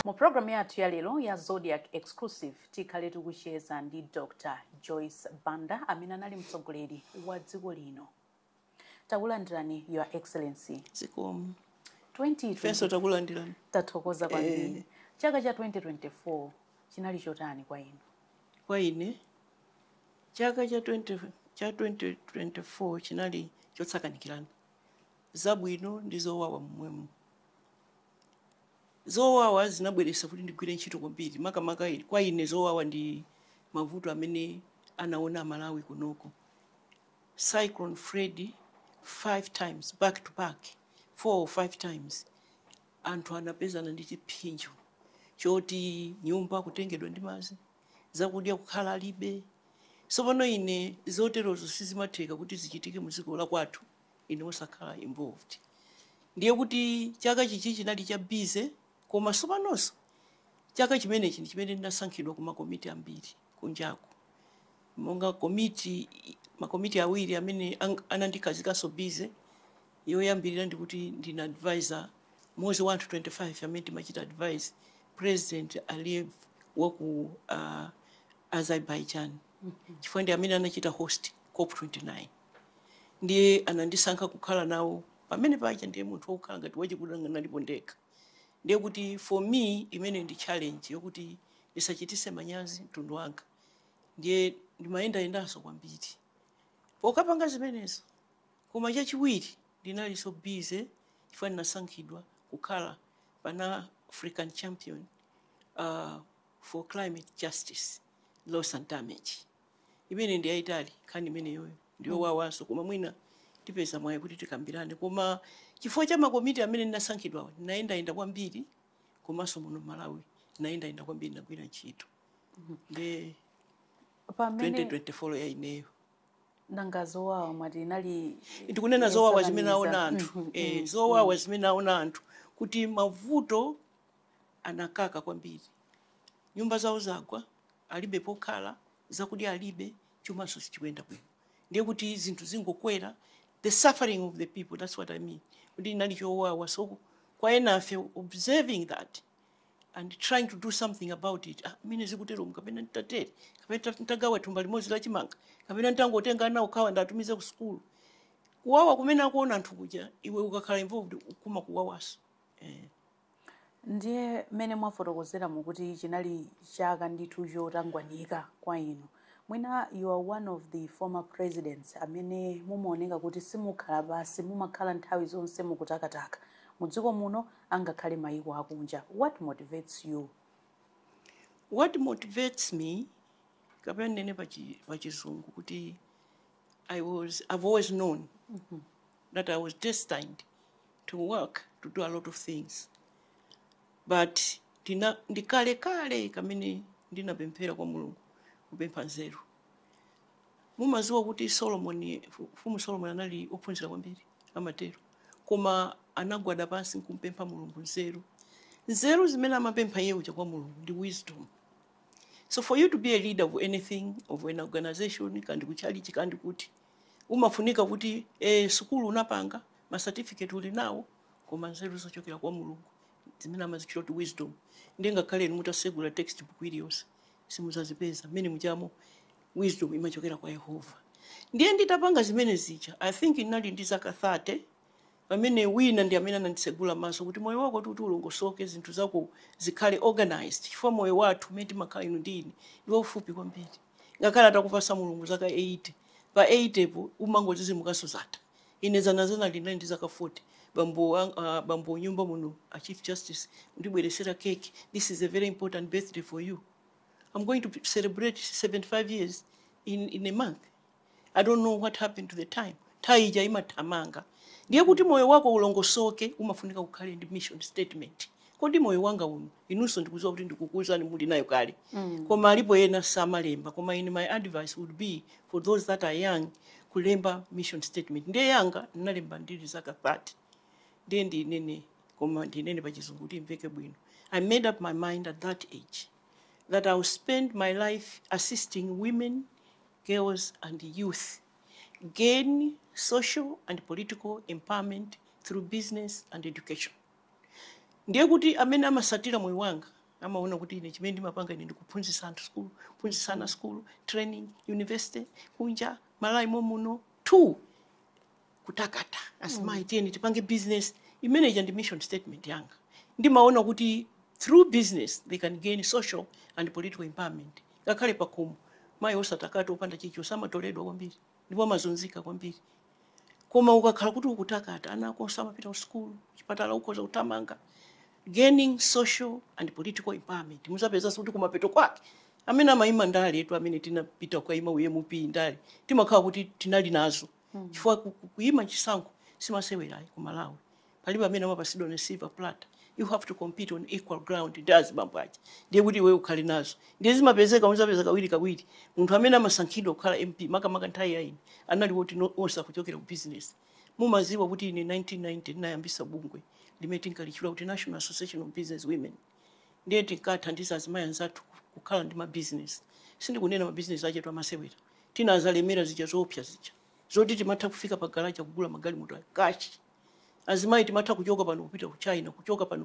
mu programu yathu ya lero ya zodiac exclusive tikhale tikucheza ndi dr joyce banda amene anali mtsogoleri wa dziko lino takulandirani your excellency zikomo 2020 ifenso takulandirani tathokoza kwambiri Eh. chaka cha 2024 chinali chotani kwa inu kwa ine chaka cha 20, cha 2024 chinali chosakanikirana zabwino ndi zowawa momwemo zowawa zinabweretsa kuti ndigwire ntchito kwambiri makamaka i- kwa ine zowawa ndi mavuto amene anaona amalawi kunoko Cyclone Freddy 5 times back to back 4 or 5 times anthu anapezana ndi chipsinjo choti nyumba kutengedwa ndi madzi zakudya kukhala alibe sopano ine zoterozo sizimatheka kuti zichitike mu dziko la kwathu ine osakhala involved ndiye kuti chaka chichi chinali cha busy koma sopanonso chaka chimenechi ndi chimene ndinasankhidwa ku makomiti ambiri kunjaku. Monga komiti, makomiti awiri amene anandikhazikaso busy, yoyambilira ndikuti ndine advisor mmodzi wa anthu 25 amene timachita advise president Aliyev wa ku Azerbaijan chifukwa ndi amene anachita host cop 29 ndiye anandisankha kukhala nawo pamene paja ndiye munthu wokhala ngati wachikuda ndinalipo ndekha. ndiye kuti for me imeneyi ndi challenge yokuti ndisachitise manyazi mtundu wanga ndiye ndimayendayendanso kwambiri pokapanga zimenezo koma chachiwiri ndinalinso busy chifukwa ndinasankhidwa kukhala pan african champion uh, for climate justice loss and damage imene ndi yayitali nkhani imeneyoyo ndiyowawanso koma mwina tipeza mwayi kuti tikambirane koma chifukwa cha makomiti amene ndinasankhidwawo ndinayendayenda kwambiri komanso muno malawi ndinayendayenda kwambiri ndagwira ntchito nde 2024 ya ineyo nanga zowawa mwati inali ndikunena zowawa zimene aona anthu Mhm, eh, zowawa zimene aona anthu kuti mavuto anakaka kwambiri. Nyumba zawo zagwa, alibe pokhala, zakudya alibe, chumanso sichikuyenda bwino. Ndiye kuti zinthu zingokwera, the suffering of the people, that's what I mean, kuti inali chowawa. So kwa enafe observing that and trying to do something about it, ah, mmene zikuteromu kapena nditatere, kapena ndita- nditagawa thumba limodzi la chimanga, kapena nditangotenga ana okhawa nditumize ku sukulu. Kuwawa kumene akuona anthu kuja, iwe ukakhala involved kumakuwawaso. Eh. Ndiye mmene mwafotokozeramo kuti chinali chaka ndithu chotangwanika kwa inu, mwina you are one of the former presidents amene mumaoneka kuti simukhala pansi, mumakhala nthawi zonse mukutakataka mu dziko muno angakhale mayiko akunja. What motivates you? What motivates me, kapena ndinene pa chi- pa chizungu kuti I was, I've always known mm -hmm. that I was destined to work, to do a lot of things. But ndi kalekale kamene ndinapemphera kwa Mulungu kupempha nzeru. Mumaziwa kuti Solomon, Mfumu Solomon anali ophunzira kwambiri amatero. Koma anagwada pansi nkumpempha Mulungu nzeru. Nzeru zimene amapempha iye uja kwa Mulungu ndi wisdom. so for you to be a leader of anything of an organization kandi kuchalichi kandi kuti umafunika kuti eh, sukulu unapanga ma certificate uli nawo koma nzeru zochokera kwa mulungu zimene amazichita kuti wisdom ndiye ngakhale inu mutasegula textbook iliyonse simuzazipeza mmene mujamo wisdom imachokera kwa yehova ndiye nditapanga zimene zija i think ndinali ndi zaka 30 pamene wina ndi amene anandisegula maso kuti moyo wako kuti ulongosoke zinthu zako zikhale organized chifukwa moyo wathu umene timakhala inu ndi ine ndi waufupi kwambiri ngakhale atakupasa mulungu zaka 80 pa 80 po umangozizimuka so zatha ine zanazana ndinali ndi zaka 40 bambo ang- ah, bambo nyumba muno a chief justice ndibweresera cake this is a very important birthday for you i'm going to celebrate 75 years in, in a month i don't know what happened to the time nthawi ija imathamanga ndiye kuti moyo wako ulongosoke umafunika ukhale ndi mission statement kodi moyo wanga uno inunso ndikuziwa kuti ndikukuuzani muli nayo kale mm. koma alipo ena samalemba koma ine my advice would be for those that are young kulemba mission statement ndiye yanga ndinalemba ndili zaka 30 ndiye ndinene koma ndinene pachizungu kuti imveke bwino i made up my mind at that age that i will spend my life assisting women girls and youth gain social and political empowerment through business and education ndiye kuti amene amasatira moyo wanga amaona kuti ine chimene ndimapanga ine ndi kuphunzitsa anthu skulu kuphunzitsa ana skulu training university kunja malawi momuno two kutakata asimayi tiyeni tipange business imene ija ndi mission statement yanga ndimaona kuti through business they can gain social and political empowerment ngakhale pakhomo mayi osatakata opanda chichi samatoledwa kwambiri ndipo amazunzika kwambiri koma ukakhala kuti ukutakata ana ako amapita ku sukulu chipatala ukhoza kuthamanga gaining social and political empowerment muzapezanso kuti kumapeto kwake amene amayima ndale etu amene tinapita kukaima u MP ndale timakhala kuti tinali nazo mm. chifukwa kuyima chisankho simasewerayi ku malawi palibe amene amapasidwa on a silver platter you have to compete on equal ground ndi azibambo aja ndiye kuti iweyo ukhale nazo ndiye zimapezeka muzapeza kawiri kawiri munthu amene amasankhidwa kukhala mp makamaka nthawi ya ine anali woti onse kuchokera ku business mumaziwa kuti ine 1990 ndinayambisa bungwe limene tinkalitchula kuti national association of business women mm. ndiye tinkathandiza azimayi anzathu kukhala ndi mabizinesi sindikunena mabizinesi achetu amasewera tinazalemera zija zoopsa zija zoti timatha kufika pa garaja kugula magalimoto a kashi azimayi timatha kuchoka pano kupita ku china kuchoka pano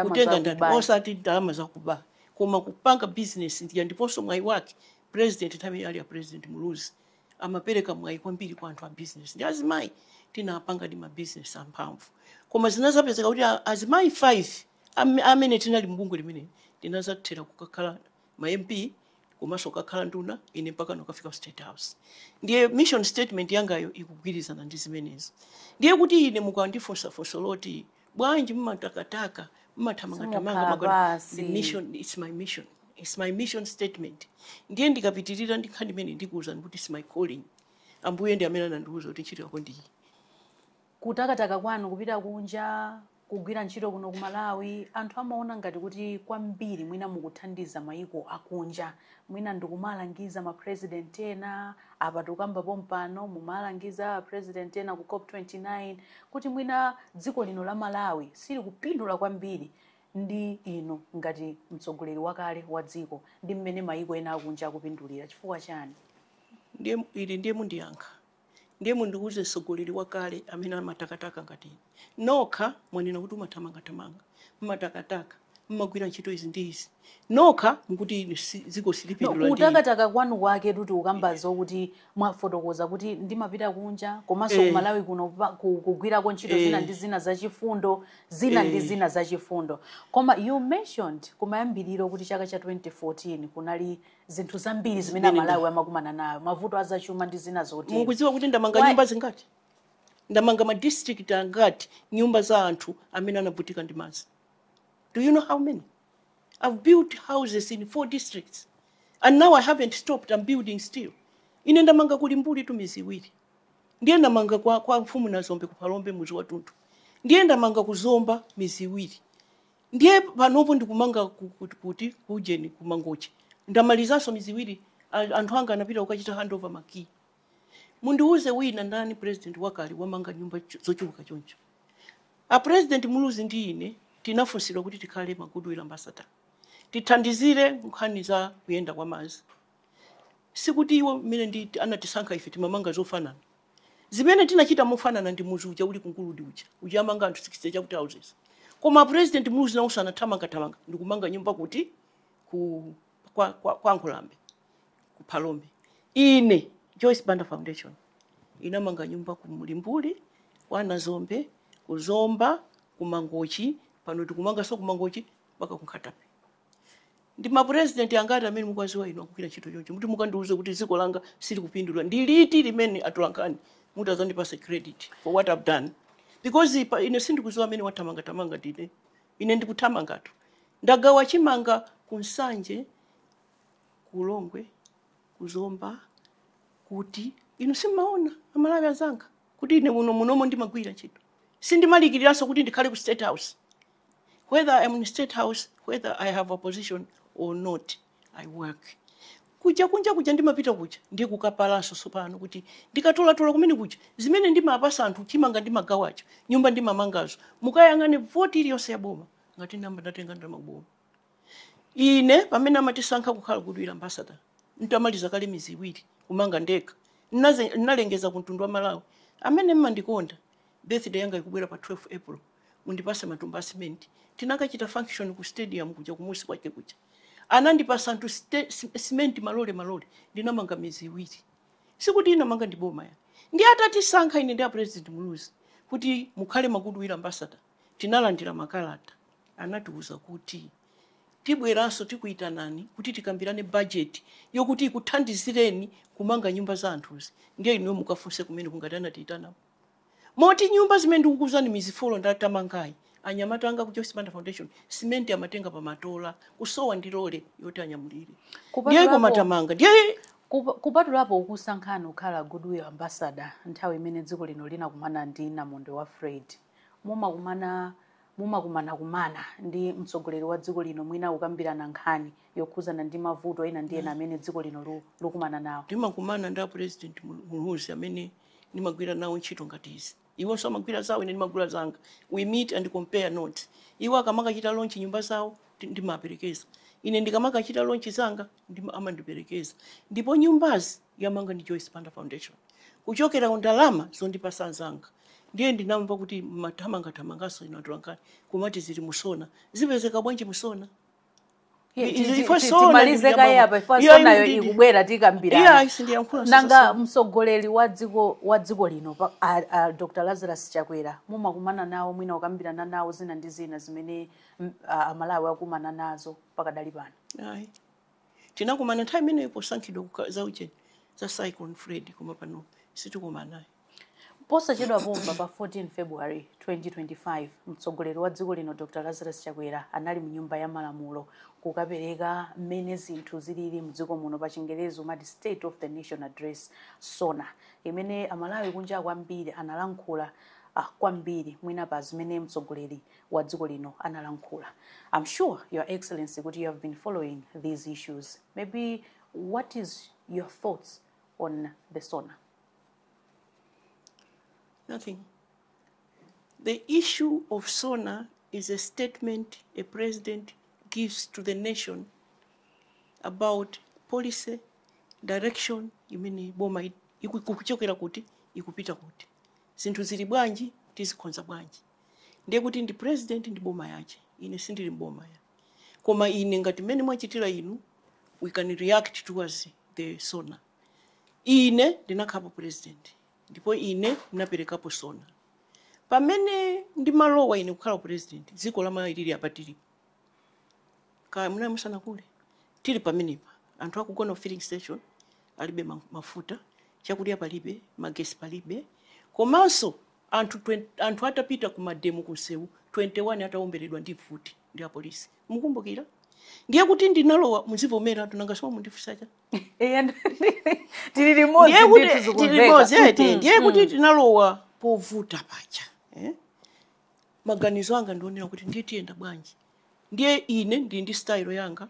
kutenga ndalama osati ndalama zakuba koma kupanga bizinesi ndiponso mwayi wake president nthawiyo ali a president muluzi amapereka mwayi kwambiri kwa anthu a bizinesi ndi azimayi tinapanga ndi mabizinesi amphamvu koma zinazapezeka kuti a- azimayi 5 Am- amene tinali mubungwe limeneli tinazathera kukakhala ma mp komanso kukakhala nduna ine mpakana kukafika ku state house ndiye mission statement yangayo ikugwirizana ndi zimenezo ndiye kuti ine mukandifunsa funso loti bwanji mmatakataka mmathamangathamanga Simukhala kugona basi. ndi mission it's my mission it's my mission statement ndiye ndikapitirira ndi nkhani ndi mmene ndikuwuzani kuti it's my calling ambuye ndi amene anandiwuza kuti ntchito yako ndiyi Kutakataka kwanu kupita kunja, kugwira ntchito kuno ku Malawi, anthu amaona ngati kuti kwambiri mwina mukuthandiza mayiko akunja. Mwina ndikumalangiza ma president ena, apa tikukamba pompano mumalangiza a president ena ku cop 29 kuti mwina dziko lino la Malawi silikupindula kwambiri ndi inu ngati mtsogoleri wakale wa dziko ndi mmene mayiko ena akunja akupindulira. Chifukwa chani? Ili ndiye mundiyankha. ndiye mundiuze mtsogoleri wakale amene amatakataka ngati ine nokha mwanena kuti umathamangathamanga mmatakataka mmagwira ntchito izi ndi izi nokha mukuti ine si- dziko No, silipindula ndi ine. kutakataka kwanu kwake kuti ukamba zokuti mwafotokoza kuti ndimapita kunja komanso Eh. ku malawi kuno pa- ku- kugwirako ntchito Eh. zina ndi zina zachifundo zina ndi Eh. zina zachifundo koma you mentioned kumayambiriro kuti chaka cha 2014 kunali zinthu zambiri zimene Zimene amalawi amakumana nazo mavuto azachuma ndi zina zotero mukudziwa kuti ndamanga nyumba zingati ndamanga ma district angati nyumba za anthu amene anavutika ndi madzi do you know how many i've built houses in four districts and now i haven't stopped i'm building still ine ndamanga ku limbuli tu mizi iwiri ndiye ndamanga kwa, kwa mfumu nazombe ku phalombe muzi watunthu ndiye ndamanga ku zomba mizi iwiri Ndiye panopo ndikumanga ku- ku- kuti ku Ujeni ku Mangochi. Ndamalizanso mizi iwiri a- anthu anga anapita kukachita handover makiyi. Mundiwuze wina ndani president wakale wamanga nyumba cho- zochuluka choncho. A president Muluzi ndi ine tinafunsidwa kuti tikhale ma goodwill ambassador. Tithandizire nkhani za kuyenda kwa madzi. Sikuti iwo mmene ndi anatisankha ife timamanga zofanana. zimene tinachita mofanana ndi mudzi uja uli ku nguludi uja uja amanga anthu 60 chakuti houses koma president muluzi nawonso anathamangathamanga ndikumanga nyumba kuti ku kwa, kwa, kwa nkhulambe ku phalombe ine joyce banda foundation inamanga nyumba ku mlimbuli kwa nazombe ku zomba ku mangochi pano tikumanganso ku mangochi mpaka ku nkhata bay Ndi ma president angati amene mukuwaziwa inu akugwira ntchito choncho muti mukandiuze kuti dziko langa silikupindula? Ndi liti limene atolankhani muti muzandipase credit for what I've done? Because ine sindikuziwa amene wathamanga thamanga ndi ine. Ine ndikuthamangatu. Ndagawa chimanga ku Nsanje, ku Ulongwe, ku Zomba, kuti inu simumaona amalawi anzanga kuti ine muno munomo ndimagwira ntchito sindimalikiriranso kuti ndikhale ku state house whether I'm in state house whether I have a position or not I work kuja kunja kuja ndimapita kuja ndiye kukapalanso tsopano kuti ndikatolatola kumene kuja zimene ndimapasa anthu chimanga ndimagawacho nyumba ndimamangazo mukayang'ane voti iliyonse yaboma ngati namba ndatenga ndamaboma ine pamene amatisankha kukhala goodwill ambasada ntamaliza kale mizi iwiri kumanga ndekha Nnaze- nnalengeza ku mtundu wa malawi amene mmandikonda birthday yanga ikubwera pa 12 april mundipase matumba a cement tinakachita function ku stadium kuja kumusi kwake kuja anandipasa anthu ste- si- cement malole malole ndinamanga mizi iwiri sikuti inamanga ndi boma ayi ndi atatisankha ine ndi a president muluzi kuti mukhale ma goodwill ambassador tinalandira makalata anatiuza kuti tibweranso tikuyitanani kuti tikambirane bajeti yokuti ikuthandizireni kumanga nyumba za anthuzi ndiye inuyo mukafunse kumeneko ngati anatiyitanako Moti nyumba zimene ndikukuuzani mizi folo ndatamangayi anyamata anga ku Joyce Banda Foundation simenti amatenga pa matola kusowa ndi lole yoti anyamulire. Ndiye koma tamanga. Ndiye kupa- kupatulapo kukusankhani kukhala Goodwill Ambassador nthawi imene dziko lino linakumana ndi namondwe wa Fred, mumakumana mumakumanakumana ndi mtsogoleri wa dziko lino mwina kukambirana nkhani yokhudzana ndi mavuto ena ndi ena amene dziko lino lu- lukumana nawo. ndimakumana ndi a president Muluzi amene ndimagwira nawo ntchito ngati izi iwonso amagwira zawo ine ndimagwira zanga we meet and compare notes iwo akamakachita lonchi nyumba zawo ndi- ndimaperekeza ine ndikamakachita lonchi zanga ndima- amandiperekeza ndipo nyumbazi yamanga ndi joyce banda foundation kuchokera ku ndalama zondipasa anzanga ndiye ndinamva kuti mmathamangathamanganso inu atolankhani kumati zili musona zipezeka bwanji musona Ye, I- ti- i- ti- ifwe ti- sona timalize ndikuya kaye baba. apa ife Iya, sonayo indidi. ikubwera Iya, tikambirana sindiyankhula nanga sasa. mtsogoleri wa dziko wa dziko lino pa- a- a dr lazarus chakwera mumakumana nawo mwina kukambirana nawo zina ndi zina zimene mm, a- amalawi akumana nazo pakadali pano Ayi. tinakumana nthawi imeneyo posankhidwa kuka- za ujeni za cyclone freddy koma pano sitikumanayo Posachedwa pompa pa 14 February 2025 mtsogoleri wa dziko lino Dr Lazarus Chakwera anali mu nyumba ya malamulo kukapereka mmene zinthu zilili mdziko muno pa chingerezi umati State of the Nation Address, SONA, imene a Malawi kunjaku ambiri analankhula ah kwambiri mwina pa zimene mtsogoleri wa dziko lino analankhula. I'm sure your excellency kuti you have been following these issues. Maybe what is your thought on the SONA? Nothing. The issue of SONA is a statement a president gives to the nation about policy direction imene boma i- iku- ikuchokera kuti ikupita kuti zinthu zili bwanji tizikonza bwanji ndiye kuti ndi president ndi boma yache ine sindili mboma ya koma ine ngati mmene mwachitira inu we can react towards the sona ine ndinakhalapo president ndipo ine ndinaperekapo sona pamene ndimalowa ine kukhala president dziko la malawi lili apa tilipo kaya munali musanakule tili pamenepa anthu akugona filling station alibe ma- mafuta chakudya palibe magesi palibe komanso anthu atapita ku mademo kunsewu 21 atawomberedwa ndi mfuti ndi apolisi mukumbukira ndiye kuti ndinalowa muzivomera nanga simukundifunsa Eya, tili limodzi ndiye kuti ndithu zikumveka. tili limodzi eti Mhm. ndiye kuti tinalowa povuta paja eh? maganizo anga ndi onena kuti ndiye tiyenda bwanji ndiye ine ndili ndi style yanga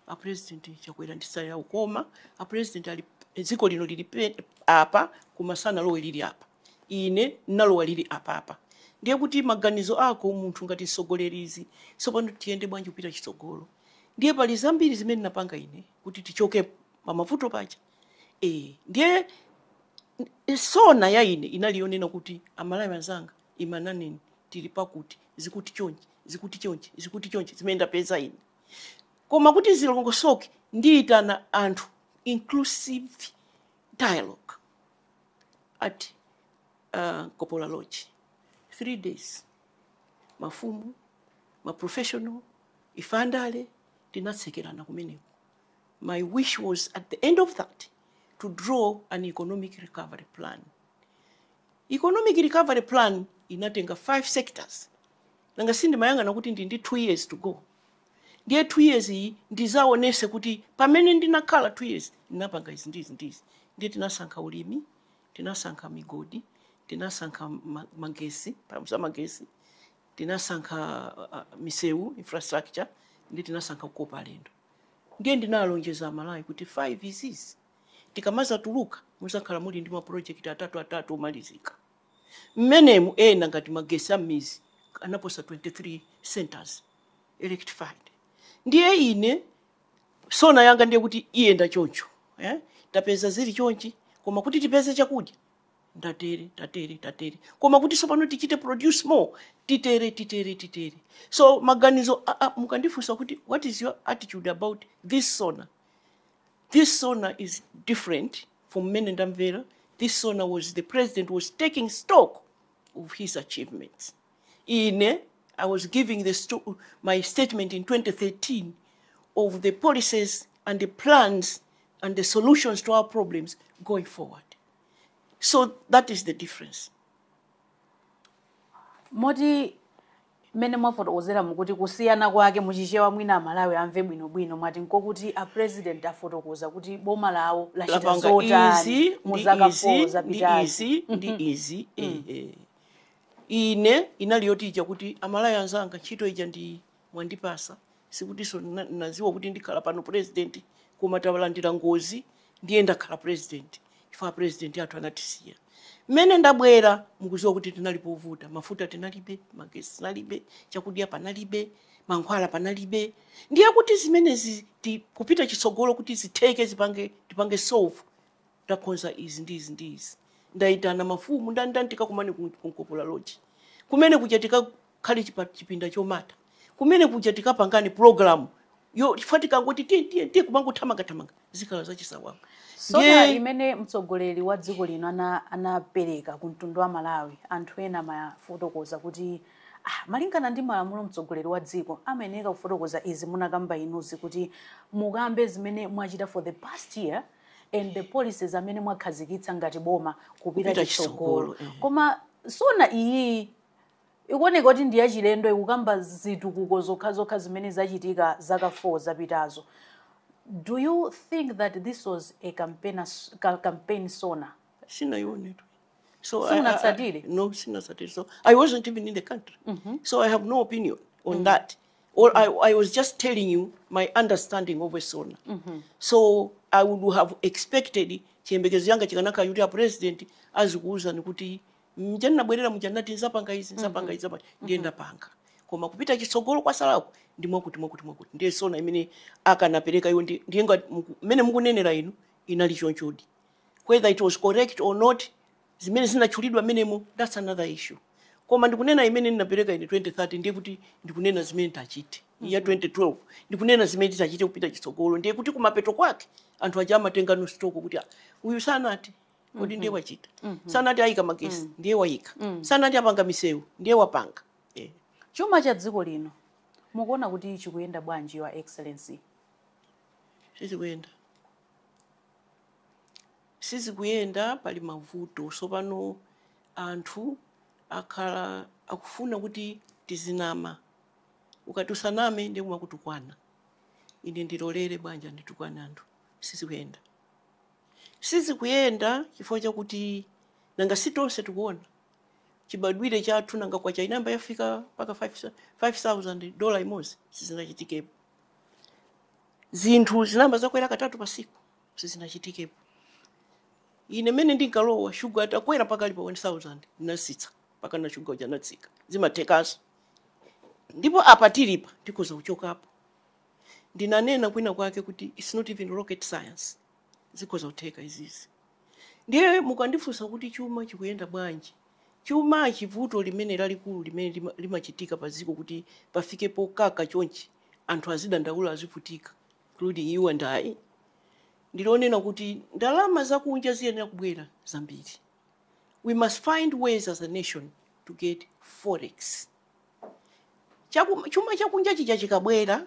a president chakwera ali ndi style yawo koma a president ali dziko lino lili pe- apa koma sanalowe lili apa ine nalowa lili apapa ndiye kuti maganizo ako munthu ngati msogolerizi tsopano tiyende bwanji kupita chitsogolo ndiye pali zambiri zimene napanga ine kuti tichoke pamavuto paja e, ndiye n- sona ya ine inali yonena kuti amalawi anzanga inanena tili pakuti zili chonchi zili chonchi zili chonchi zimene ndapeza ine koma kuti zilongosoke ndiyitana anthu inclusive dialogue at uh, nkopola lodge three days mafumu maprofessional ife andale tinatsekerana kumeneko my wish was at the end of that to draw an economic recovery plan economic recovery plan inatenga five sectors nanga sindimayang'ana kuti ndi ndi two years to go ndiye two years iyi ndizaonese kuti pamene ndinakhala two years ndinapanga izi ndizi ndizi ndiye tinasankha ulimi tinasankha migodi tinasankha magesi pamodzi za magesi tinasankha uh, misewu infrastructure ndiye tinasankha kukopa alendo ndiye ndinalonjeza amalawi kuti 5 izizi tikamazatuluka muzakhala muli ndi maproject atatu atatu omalizika mmenemu ena ngati magesi a mmizi anaposa 23 centers electrified ndiye ine sona yanga ndiye kuti iyenda choncho eh? tapeza zili chonchi koma kuti tipeze chakudya tatere tatere tatere koma kuti sopano tichite produce more titere titere titere so maganizo a- a- mukandifunsa kuti what is your attitude about this sona this sona is different from mmene ndamvera this sona was the president was taking stock of his achievements ine i was giving my statement in 2013 of the policies and the plans and the solutions to our problems going forward so that is the difference moti mmene mwafotokozera mukuti kusiyana kwake muchichewa mwina amalawi amve bwinobwino mwati nkokuti a president afotokoza kuti boma lawo lachita zotani mu zaka 4 zapitazi izi ndi izi ehe Ine inali yoti ija kuti a Malawi anzanga ntchito ija mwandipasa sikutinso naziwa kuti ndikhala pano president koma talandira ngozi ndiye ndakhala president chifukwa apresident athu anatisiya mmene ndabwera mukuziwa kuti tinali povuta mafuta tinalibe magesi tinalibe chakudya panalibe mankhwala panalibe ndiye kuti zimenezi kupita chitsogolo kuti zitheke tipange solve takonza izi ndi izi ndi izi ndaitana mafumu ndani ndani tikakumane ku nkopola lodge kumene kuja tikakhale chipinda chomata kumene kuja tikapangane programuyo chifukwa tikangoti tiye tiye tiye kumangothamangathamanga zikhala zachisawawa sona imene mtsogoleri wa dziko lino anapereka ku mtundu wa amalawi anthu ena amafotokoza kuti ah, malingana ndi malamulo mtsogoleri wa dziko amayeneka kufotokoza izi munakamba inuzi kuti mukambe zimene mwachita for the past year and the policies amene mwakhazikitsa ngati boma kupita chitsogolo, eh. koma sona iyi ikuoneka kuti ndi yachilendo ikukamba zitukuko zokhazokha zimene zachitika zaka 4 zapitazo do you think that this was a campaign, ca- campaign sona sinayione tu so I- I- I- Simunatsatire? no sinatsatire so i wasn't even in the country so i have no opinion on that Or I, I was just telling you my understanding of a SONA. Mm -hmm. So I would have expected chiyembekezo changa chikanakhala kuti a president azikuwuzani kuti mja ndinabwerera muja ndinati ndzapanga izi nzapanga izi nzapanga ndiye ndapanga koma kupita chitsogolo kwasalako ndi mwakuti mwakuti mwakuti ndiye sona imene akanapereka iwo ndi- ndiye ngati muku- mmene mukunenera inu inali chonchodi whether it was correct or not zimene zinatchulidwa mmenemo that's another issue koma ndikunena imene ndinapereka ine 2013 ndiye kuti ndikunena zimene tidachita ya 2012 ndikunena zimene titachite kupita chitsogolo ndiye kuti kumapeto kwake anthu aja amatenga no stock kuti "Ah, uyu sanati kodi ndiye wachita sanati ayika magesi ndiye wayika sanati apanga misewu ndiye wapanga Eh. chuma cha dziko lino mukuona kuti chikuyenda bwanji your excellency sizikuyenda Sizikuyenda, pali mavuto. Tsopano anthu akhala akufuna kuti tizinama. Ukati usaname ndiye kumakutukwana. Ine ndilolera bola anditukwane anthu? Sizikuyenda. Sizikuyenda chifukwa chakuti nanga si tonse tikuona chibadwire chathu, nanga kwacha inayamba yafika mpaka 5,000 dola imodzi? Sizinachitikepo. Zinthu zinayamba zakwera katatu pa tsiku. sizinachitikepo ine mene ndinkalowa shuga atakwera mpaka ali pa 1000 ndinasitsa mpaka na shuga uja anatsika zimathekaso ndipo apa tilipa tikhoza kuchokapo ndinanena kwina kwake kuti its not even rocket science zikhoza kutheka izizi ndiye mukandifunsa kuti chuma chikuyenda bwanji chuma chivuto limene lalikulu limene lima- limachitika pa dziko kuti pafike pokaka chonchi anthu azidandaula azivutika including you and I, ndi lonena kuti ndalama zakunja ziyenera kubwera zambiri. We must find ways as a nation to get forex. Chaku, chuma chakunja chija chikabwera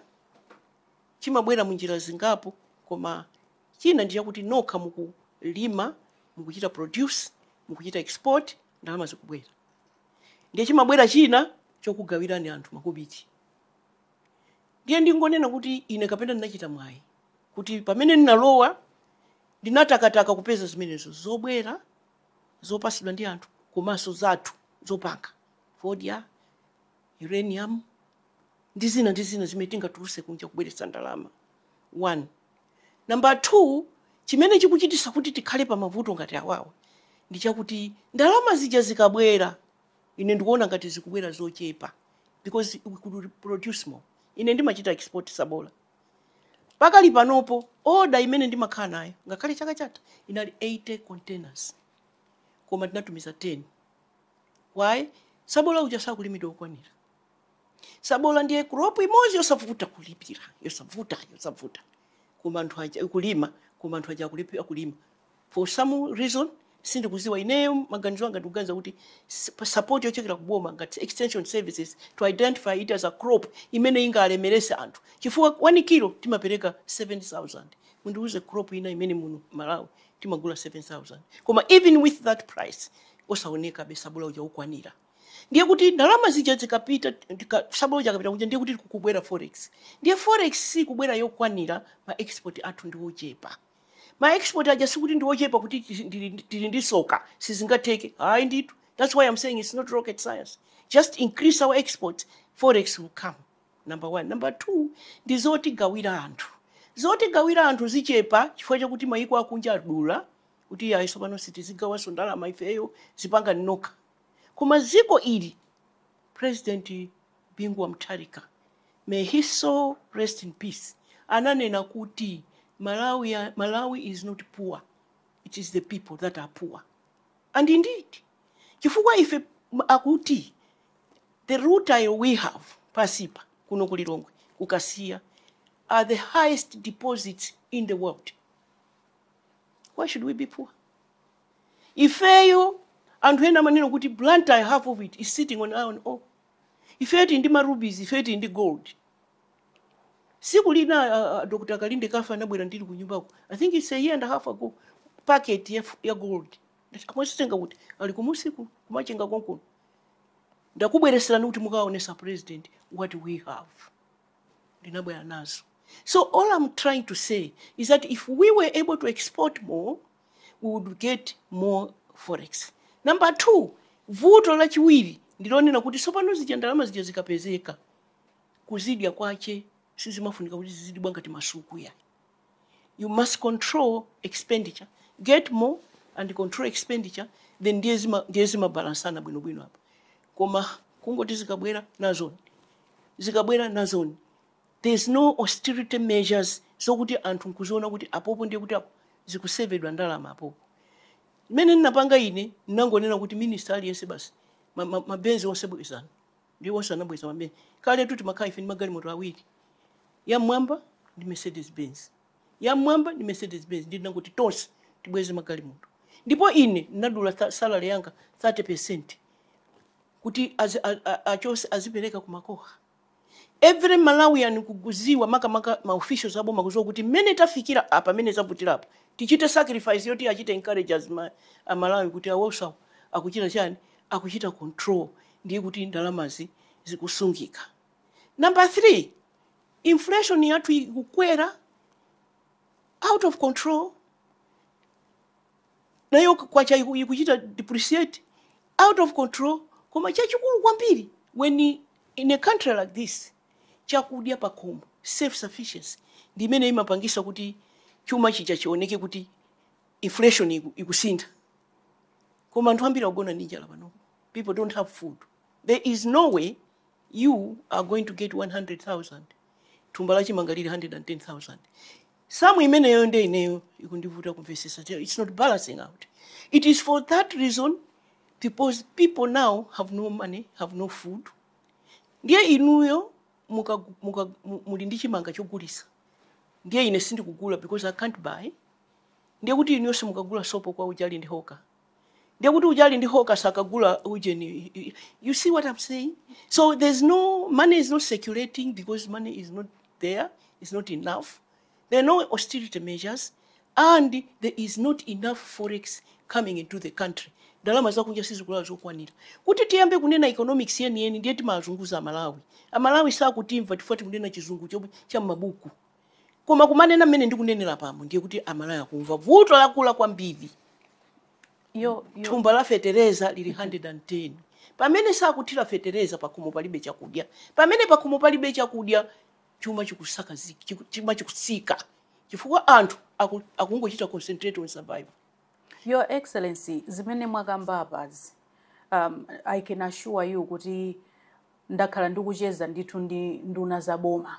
chimabwera munjira zingapo koma china ndi chakuti nokha mukulima mukuchita produce mukuchita export ndalama zikubwera ndiye chimabwera china chokugawirani anthu makobiti Ndiye ndingonena kuti ine kapena ndinachita mwayi kuti pamene ndinalowa ndinatakataka kupeza zimenezo zobwera zopatsidwa ndi anthu komanso zathu zopangapanga fodya, uranium ndi zina ndi zina zimene tingatulutse kunja kubweretsa ndalama one. Number two, chimene chikuchititsa kuti tikhale pa mavuto ngati awawa ndi chakuti ndalama zija zikabwera ine ndikuona ngati zikubwera zochepa because we could produce more ine ndimachita export sabola pakali panopo oda imene ndimakhala nayo ngakhale chaka chatha inali 80 containers koma tinatumiza 10 why sabola uja sakulimidwa wokwanira sabola ndiye crop imodzi yosavuta kulipira yosavuta yosavuta koma anthu aja akulima koma anthu aja akulipi- akulima for some reason sindikudziwa ineyo maganizo anga ndikuganiza kuti s- support yochokera ku boma ngati extension services to identify it as a crop imene ingalemeretse anthu chifukwa 1 kilo timapereka 7000 mundiuze crop ina imene muno malawi timagula 7000 koma even with that price osaonekabe sabola uja wokwanira ndiye kuti ndalama zija zikapita tika- sabola uja akapita kuja ndiye kuti kukubwera forex ndiye forex sikubwera yokwanira ma export athu ndi ochepa ma export aja sikuti ndi ochepa kuti tili- ndili- tili ndi soka sizingatheke ayi ndithu that's why i'm saying it's not rocket science just increase our exports forex will come number one number two ndi zotigawira anthu zotigawira anthu zichepa chifukwa chakuti mayiko akunja adula kuti iyayi tsopano sitizigawanso ndalama ifeyo zipangani nokha koma dziko ili president Bingu wa Mutharika, may his soul rest in peace, ananena kuti Malawi is not poor, it is the people that are poor. And indeed, chifukwa ife akuti the rutile we have pansipa kuno ku Lilongwe ku Kasiya are the highest deposits in the world. Why should we be poor? Ifeyo anthu ena amanena kuti Blantyre half of it is sitting on iron ore. ifeyo tili ndi ma rubies, ifeyo tili ndi gold. Tsiku lina a, a, Dr. Kalindekafe anabwera ndili kunyumbako. I think it's a year and a half ago. Packet ya, f- ya gold. Ndati mwazitenga kuti ali kumsika ku Machinga konkuno. Ndakubweretserani kuti mukaonetse president what we have. ndinabwera nazo so all i'm trying to say is that if we were able to export more we would get more forex number two vuto lachiwiri ndilonena kuti tsopano zija ndalama zija zikapezeka kuzidya kwache sizimafunika kuti zizidibwa ngati masuku iyayi you must control expenditure get more and control expenditure then ndiye zima- ndiye zimabalansana bwinobwino apa koma kungoti zikabwera nazoni zikabwera nazoni There's no austerity measures zokuti anthu nkuziona kuti apopo ndiye kuti aku, zikusevedwa ndalama apopo. Mmene ndinapanga ine ndinangonena kuti minister aliyense basi ma- ma- mabenzi onse bwezani ndi onse anabweza mabenzi kale tu timakhala ife ndi magalimoto awiri yam'mwamba ndi mercedes benz yam'mwamba ndi mercedes benz ndiye ndinangoti tonse tibweze magalimoto ndipo ine ndinadula tha- salary yanga 30 percent kuti azi- a- a- achonse azipereka kumakoha every malawian ndikukuziwa makamaka ma officials aboma kuziwa kuti mmene tafikira apa mmene zavutira apa tichite sacrifice yoti achite encourage as ma, amalawi kuti awosawo akuchita chani akuchita control ndiye kuti ndalamazi zikusungika number three inflation yathu ikukwera out of control nayo kwacha iku- ikuchita depreciate out of control koma chachikulu kwambiri when i- in a country like this chakudya pakhomo self sufficiency ndi imene imapangisa kuti chuma chija chioneke kuti inflation iku- ikusintha koma anthu ambiri akugona ndi njala pano people don't have food there is no way you are going to get 100000 thumba la chimanga lili 110000 sum imeneyo nde ineyo ikundivuta kumvesesa Tell- it's not balancing out it is for that reason because people now have no money have no food ndiye inuyo muka, muka, mu- muli ndi chimanga chogulisa ndiye ine sindikugula because i can't buy ndiye kuti inuyo simukagula sopo kwa uja ali ndi hoka ndiye kuti uja ali ndi hoka sakagula ujeni you see what i'm saying so there's no money is not circulating because money is not there is not enough there are no austerity measures and there is not enough forex coming into the country ndalama zakunja sizikulowa zokwanira kuti tiyambe kunena economics yeniyeni ndiye timazunguza amalawi amalawi sakutimva chifukwa tikunena chizungu chomwe cha m'mabuku koma kumanena mmene ndikunenera pano ndiye kuti amalawi akumva vuto lakula kwambiri yo, yo. thumba la fetereza lili 110 pamene sakuthira fetereza pakhomo palibe chakudya pamene pakhomo palibe chakudya chuma chikusaka zi- chiku- chuma chikusika chifukwa anthu aku- akungochita concentrate on survival Your Excellency, zimene mwakamba apazi, um, I can assure you kuti ndakhala ndikucheza ndithu ndi nduna za boma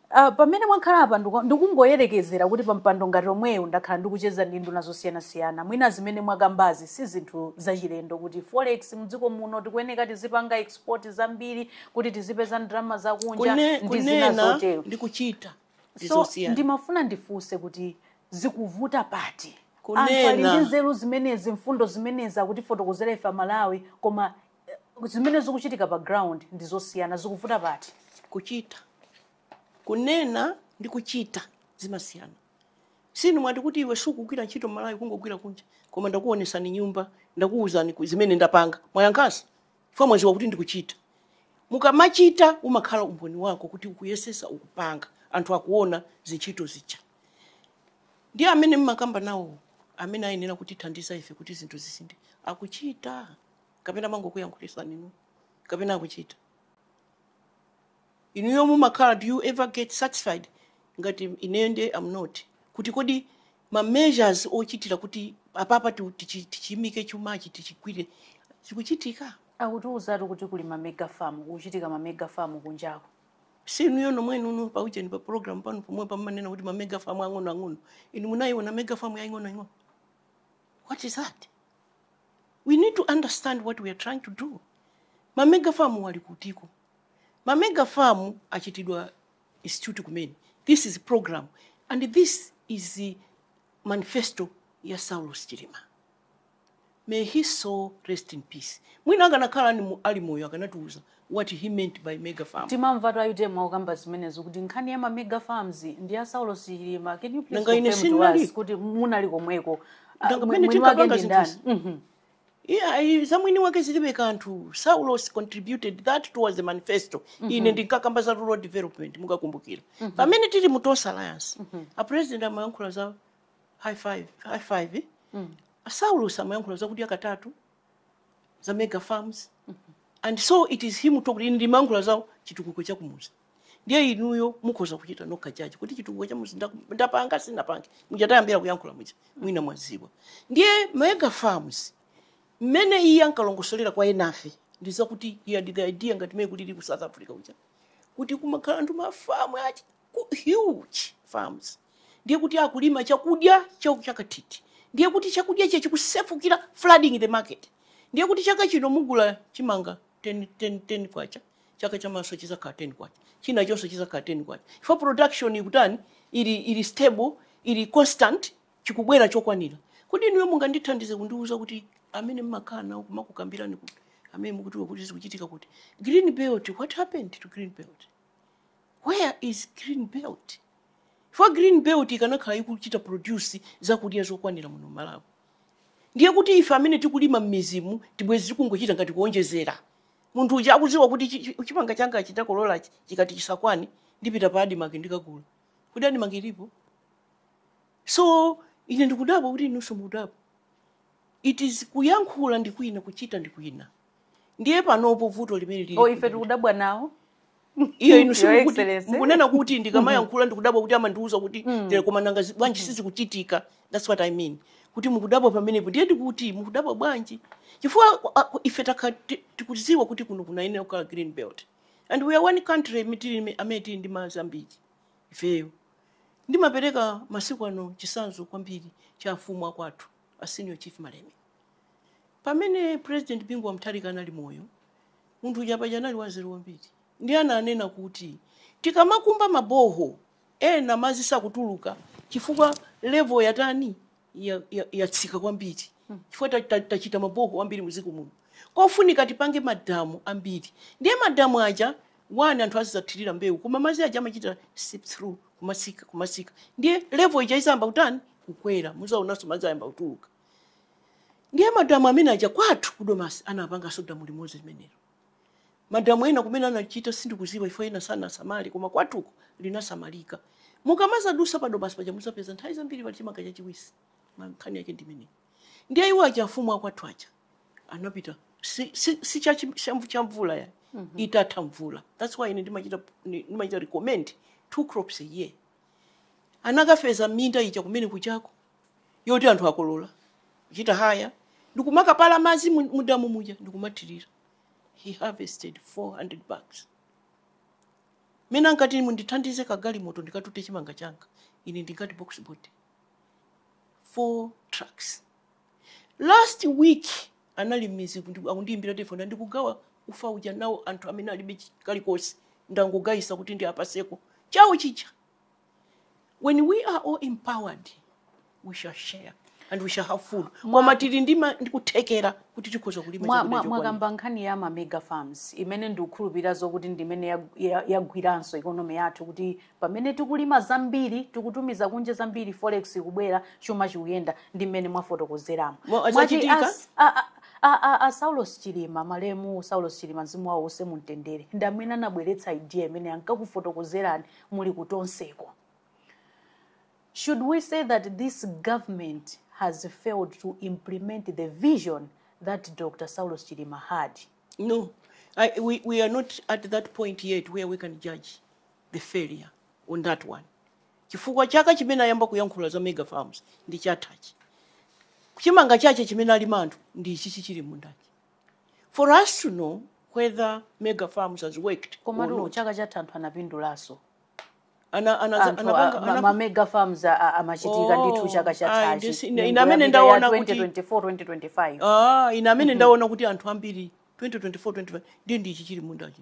Uh, pamene mwakhala apa ndiku- ndikungoyerekezera kuti pa mpando ngati omwewo ndakhala ndikucheza ndi nduna zosiyanasiyana mwina zimene mwakambazi si zinthu zachilendo kuti forex mdziko muno tikuyeneka tizipanga export zambiri kuti tizipeza ndalama zakunja Kune, ndi zina kunena zotero ndi kuchita so ndizosiyana ndimafuna ndifunse kuti zikuvuta pati anthu ali Kunena. ndi nzeru zimenezi mfundo zimenezi akutifotokozera ife amalawi koma zimene zikuchitika pa ground ndi zosiyana zikuvuta pati kuchita kunena ndi kuchita zimasiyana sinu mwati kuti iwe sukugwira ntchito malawi kungogwira kunja koma ndakuonesani nyumba ndakuwuzani ku- zimene ndapanga mwayankhanso chifukwa mwaziwa kuti ndikuchita mukamachita umakhala umboni wako kuti ukuyesesa ukupanga anthu akuona zintchito zija ndi amene mmakamba nawo amene ayenera kutithandiza ife kuti zinthu zisinthe akuchita kapena amangokuyankhulitsani inu kapena akuchita inuyo mumakhala do you ever get satisfied ngati ineyo nde am not kuti kodi ma measures ochitira kuti apapa ti- tichi- tichimike chumachi tichigwire zikuchitika akutiuzatu kuti kuli ma mega farm kuchitika ma mega farm kunjako si inuyo nomwenu paujeni pa program panu pomwepa mmanena kuti ma mega farm ang'ono ang'ono inu munayiona mega farm yaying'ono ing'ono what is that we need to understand what we are trying to do ma mega farm wali kutiko ma mega farm achitidwa institute kumene this is program and this is the manifesto ya saulos chilima may his soul rest in peace mwina akanakhala ali mu- ali moyo akanatiuza what he meant by mega farm. timamvatu a utm akukamba zimenezo kuti nkhani ya ma mega farms ndi ya saulos chilima can you please Nanga ine confirm to sindinali. us kuti munali komweko Ah, Nanga mwe- pamene mwini wake tinkapanga ndi ndani zinthuzi. Mhm. Yeah, za mwini wake zilibe kanthu saulos contributed that towards the manifesto ine ndinkakamba za rural development mukakumbukira pamene tili mu tonse alliance a president amayankhula za high five, high five eh? saulos amayankhula za kudya katatu za mega farms and so it is him talking ine ndimayankhula za chitukuko cha kumuzi ndiye inuyo mukhoza kuchita nokha judge kuti chitukuko cha muzi ndaku- ndapanga sinapange muja tayambira kuyankhula muja mwina mwaziwa ndiye mega farms mmene iye ankalongosolera kwa enafe ndi zakuti iye ndi the idea ngati mmene kulili ku south africa uja kuti kumakhala anthu mafamu achi ku huge farms ndiye kuti akulima chakudya cha chakathithi ndiye kuti chakudya chija chikusefukira flooding the market ndiye kuti chaka chino mugula chimanga 10, 10, 10 kwacha chaka chamawanso chizakhala 10 kwacha china chonse chizakhala 10 kwacha chifukwa production ikutani ili, ili stable ili constant chikubwera chokwanira kodi inuyo mungandithandize kundiwuza kuti amene mmakhala nawo kumakukambirani kuti amene mukuziwa kuti zikuchitika kuti green belt what happened to green belt Where is green belt? Chifukwa green belt ikanakhala ikuchita produce zakudya zokwanira muno Malawi ndiye kuti ife amene tikulima mmizimu ti- bwezi tikungochita ngati kuonjezera. Munthu uja akuziwa kuti chi- chi- chimanga changachi ndakololachi chikati chisakwane ndipita pa Admarc ndikagula. Kodi Admarc ilipo? So ine ndikudabwa kuti inunso mukudabwa. It is kuyankhula ndi kwina kuchita ndi kwina. ndiye panopo vuto limene lili oh, ife tikudabwa nawo iyo inu so mukunena kuti ndikamayankhula ndikudabwa kuti amandiuza kuti mm. tere koma nanga zi- bwanji sizikuchitika thats what i mean kuti mukudabwa pamenepo ndiye ndikuti mukudabwa bwanji chifukwa ku- a- ku- ife takha- ti- tikudziwa kuti kuno kunayenera kukhala green belt and we are one country imi- tili imi- amene tili ndi madzi ambiri ifeyo ndimapereka masiku ano chitsanzo kwambiri cha afumu akwathu a senior chief malemia pamene president bingu wa mutharika anali moyo munthu uja paja anali wanzeru kwambiri ndiye ananena kuti tikamakumba maboho ena madzi sakutuluka chifukwa level yatani ya- ya- yatsika kwambiri chifukwa ta- ta- tachita maboho ambiri muziko muno kofunika tipange madamu ambiri ndiye madamu aja 1 anthu azidzathirira mbewu koma madzi aja amachita seep through kumatsika kumatsika ndiye level ija idzayamba kutani kukwera mudzaonanso madzi ayamba kutuluka ndiye madamu amene aja kwathu kudomasi anapanganso damu limodzi limenelo madamu ena kumene anachita sindikudziwa if ena sanasamale koma kwathuko linasamalika mukamadzadutsa padomasi paja mudzapeza nthawi zambiri pali chimanga chachiwisi nkhani yake ndi imeneyi ndiye iwo aja afumu akwathu aja anapita si, si, si cha chi- cha mvu- cha mvula ya itatha mvula that's why ine ndimachita ndi- ndimachita recommend two crops a year anakafesa minda ija kumene kuchako yoti anthu akolola kuchita haya ndikumakapala madzi mu- mudamu muja ndikumathirira he harvested 400 bags mene ankati mundithandize kagalimoto ndikatute chimanga changa ine ndingati box body four trucks last week anali m'midzi ndi- akundiyimbira telefoni ndikugawa ufa uja nawo anthu amene alibe chi- kalikonse ndangogayisa kuti ndiwapatseko chawo chija when we are all empowered we shall share and we shall have food koma tili ndi ma- ndi kuthekera kuti tikhoza kulima Mwa- chakudya mwa- chokwanira. mwakamba nkhani ya ma mega farms imene ndikukhulupirira zokuti ndimene yag- ya- yagwiranso ikonomi yathu kuti pamene tikulima zambiri tikutumiza kunja zambiri forex ikubwera chuma chikuyenda ndi mmene mwafotokozeramo saulos chilima malemu saulos chilima mzimu wawo use mumtendere ndi amene anabweretsa idea imene ankakufotokozerani muli kutonseko should we say that this government has failed to implement the vision that dr saulos chilima had no I, we, we are not at that point yet where we can judge the failure on that one chifukwa chaka chimene ayamba kuyankhula za mega farms ndi chathachi chimanga chache chimene alima anthu ndi ichichi chili mmundachi for us to know whether mega farms has worked or not komatu chaka chatha anthu anapindulaso ana ana anthu anapanga a- ma- anap- ma mega farms a- a- amachitika Oh, ndithu chaka ayi, chathachi ndisi- ine- Nyengo ine amene yapita ya ndaona kuti- 2024 2025 Ah, ine amene ndaona kuti anthu ambiri 2024 2025 ndi ndi ichi chili mmundachi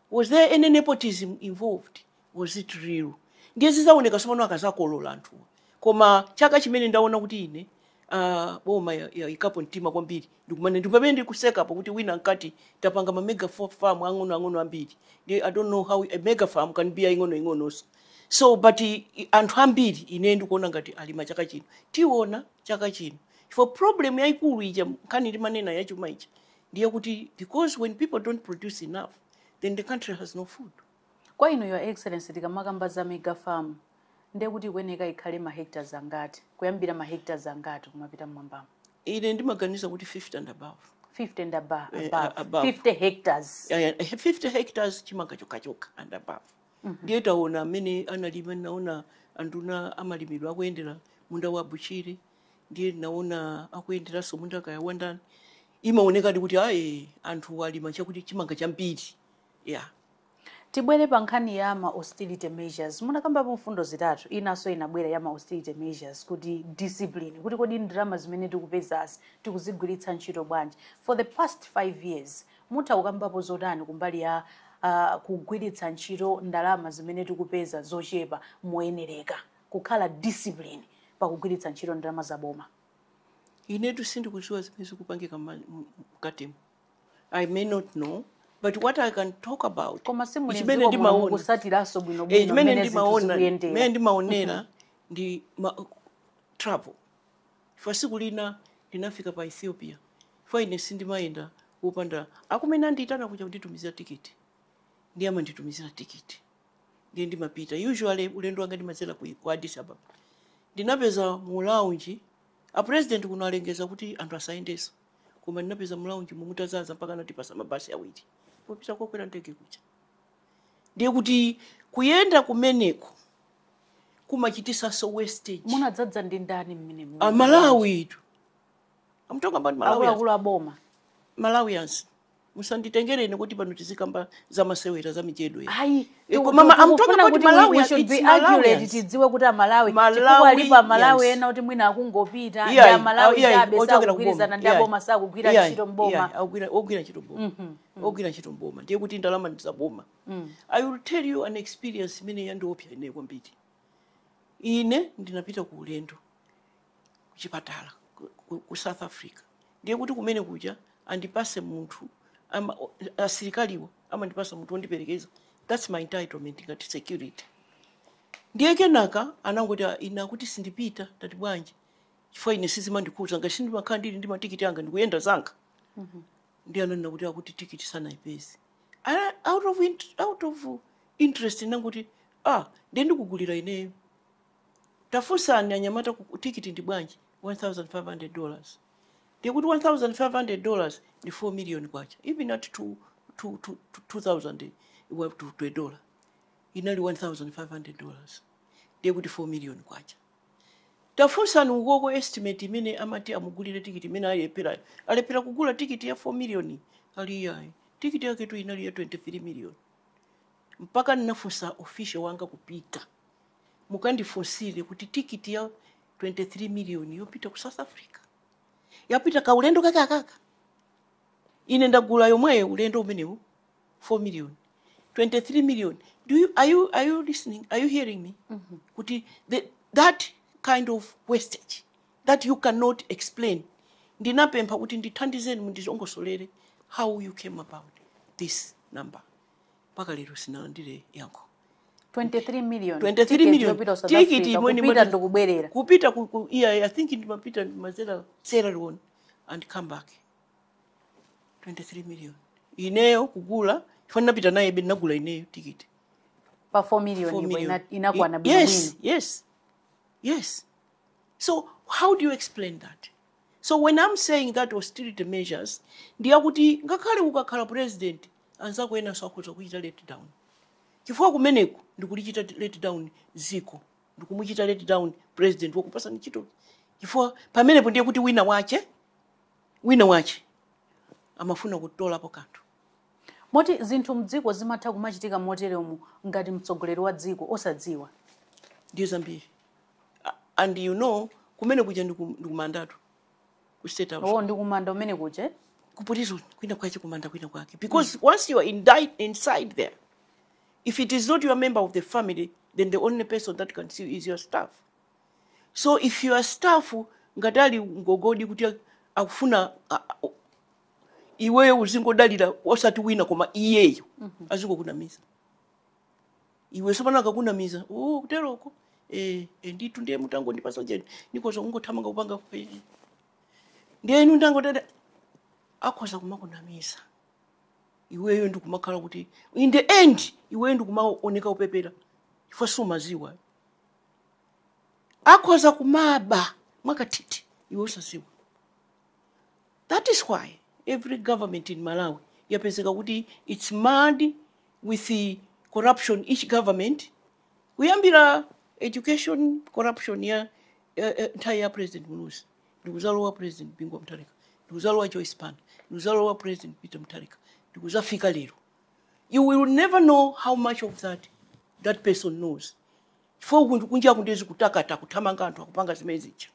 Was there any nepotism involved? Was it real? Ndiye zizaoneka tsopano akazakolola anthuwa. Koma chaka chimene ndaona kuti ine uh, boma ya, ya ikapo mtima kwambiri ndi kumene ndi pamene ndikuseka pa kuti wina akuti tapanga ma mega fo- farm ang'ono ang'ono ambiri. Ndiye I don't know how a mega farm can be ing'ono ing'ononso. So but i- i- anthu ambiri ine ndikuona ngati alima chaka chino. Tiona chaka chino. For problem yayikulu ija nkhani ndimanena yachuma ija ndiye kuti because when people don't produce enough then the country has no food kwa inu your excellency tikamakamba za mega farm ndiye kuti ikuyeneka ikhale mahectares angati kuyambira mahectares angati kumapita mmwambamo ine ndimaganiza kuti 50 and above 50 and above, eh, above. above. 50 hectares uh, eh, 50 eh, hectares chimanga chokhachokha and above mm -hmm. ndiye taona amene analima ndinaona anduna a malimidwe akuyendera munda wa a Bushiri ndiye ndinaona akuyenderanso munda kaya wandani imaonekadi kuti ayi anthu alima chakuti chimanga chambiri ya tibwere pa nkhani ya ma austerity measures munakambapo mfundo zitatu inanso inabwerapo ya ma austerity measures kuti discipline kuti kodi ndalama zimene tikupezazi tikuzigwiritsa ntchito bwanji for the past five years mutha kukambapo zotani kumbali ya uh, kugwiritsa ntchito ndalama zimene tikupeza zochepa moyenereka kukhala discipline pakugwiritsa ntchito ndalama za boma. inetu sindikudziwa zimene zikupangika mma- m- m- mkatimo i may not know but what i can talk about Koma si muli chimene mdziko muno ndimaona mukusatiranso Eh, bwinobwino chimene mmene zinthu ndimaona chimene zikuyendera. ndimaonera ndi ma, travel chifukwa siku lina ndinafika pa ethiopia chifukwa ine sindimayenda kupanda akumene andiyitana kuja kunditumizira tikiti ndiye amanditumizira tikiti ndiye ndimapita usually ulendo wanga ndimadzera ku ku addis ababa ndinapeza mu lounge a president kuno alengeza kuti anthu asayendenso koma ndinapeza mu lounge momo mutadzadza mpaka anatipatsa mabasi awiri popita kokwera ndege kuja ndiye kuti kuyenda kumeneko kumachititsanso wastage munadzadza ndi ndani mmenemu amalawi itu I'm talking about malawi akuluakulu aboma malawians musanditengere ine kuti pano tizikamba za masewera za mijedo ya Ayi, Eh, koma ma- I'm talking about Malawi, it's Malawians. tidziwe kuti Amalawi, Malawi, chifukwa alipo amalawi yes. ena kuti mwina akungopita ndi Iyayi, amalawi iyayi, chabe ochokera sakugwirizana kuboma, ndi iyayi. aboma sakugwira Iyayi, ntchito mboma iyayi, akugwira- ogwira ntchito mboma ogwira ntchito mboma ndiye kuti ndalama ndizaboma i will tell you an experience imene yandiopsa ine kwambiri ine ndinapita ku ulendo kuchipatala ku, ku, ku south africa ndiye kuti kumene kuja andipase munthu ama- o- asilikaliwo amandipasa munthu wondiperekeza thats my entitlement ngati security ndiye kenaka anangoti "Ah, ine akuti sindipita ndinati bwanji chifukwa ine sizimandikhudza ngati sindimakhala ndili ndi matikiti anga ndikuyenda zanga ndiye ananena kuti akuti tikiti sanayipeze Ana- out of, int- out of interest ndinangoti ah ndiye ndikugulira ineyo Tafunsani anyamata ku, tikiti ndi bwanji 1500 dollars? Ndiye kuti 1500 dollars ndi 4 million kwacha, even at two, two, two, two, 2000 wa- to, to a dollar inali 1500 dollars ndiye kuti 4 million kwacha. Tafunsani ukoko estimate imene amati amugulire tikiti imene alepherayo. Alephera kugula tikiti ya 4 million ali iyayi. Tikiti yaketu inali ya 23 million. Mpaka ndinafunsa official wanga kupita. Mukandifunsire kuti tikiti ya 23 miliyoni yopita ku South Africa yapita kaulendo kake akaka? Ine ndagula yomweyo ulendo umenewu 4 miliyoni 23 miliyoni do you, are, you, are you listening are you hearing me mm -hmm. kuti the, that kind of wastage that you cannot explain ndinapempha kuti ndithandizeni mundilongosolere how you came about this number mpaka lero sindinalandire yankho 23 million 23 tikiti million yopita ku South tikiti Africa, imwe ni kupita mati- ndikubwerera kupita ku, ku yeah, i think ndimapita ndimazera sierra leone and come back 23 million ineyo kugula chifukwa ndinapita nayebe ndinagula ineyo tikiti pa 4 4 million ipo million. ina- inakwana Y- bwino yes bwino yes yes so how do you explain that so when i'm saying that austerity measures ndi akuti ngakhale ukakhala president Anzako enanso akhoza kukuchita let down chifukwa kumeneko ndikulichita let down dziko ndikumuchita let down president wakupasani ntchito chifukwa pamenepo ndiye kuti wina wake wina wake amafuna kutolapo kanthu Moti zinthu mdziko zimatha kumachitika moteremu ngati mtsogoleri wa dziko osadziwa. ndiye zambiri A- and you know kumene kuja ndiku- ndikumandatu ku state house ndikumanda umene kuja ku prison kwina kwache kumanda kwina kwake because mm. once you are indict, inside there if it is not your member of the family then the only person that can see you is your staff so if your staff ngati ali ngogodi kuti akufuna iweyo uzingodalira osati wina koma iyeyo mm -hmm. azingokunamiza iwe sopano akakunamiza oh kuteroko eh eh, ndithu ndiye mutangondipatsa ujeni ndikoza kungothamanga kupanga kupe ndiye inu ndangotata akhoza kumakunamiza iweyo ndikumakhala kuti in the end iweyo ndikumaoneka upepera chifukwa sumaziwa akhoza kumaba mwakathithi iwe usaziwa That is why every government in Malawi yapezeka kuti its marred with corruption, each government kuyambira education corruption ya nthawi ya President Muluzi ndikuzalowa President Bingu wa Mutharika ndikuzalowa Joyce Banda ndikuzalowa President Peter Mutharika ndikuzafika lero you will never know how much of that that person knows chifukwa kunja kuno ndizikutakata kuthamanga anthu akupanga zimene zija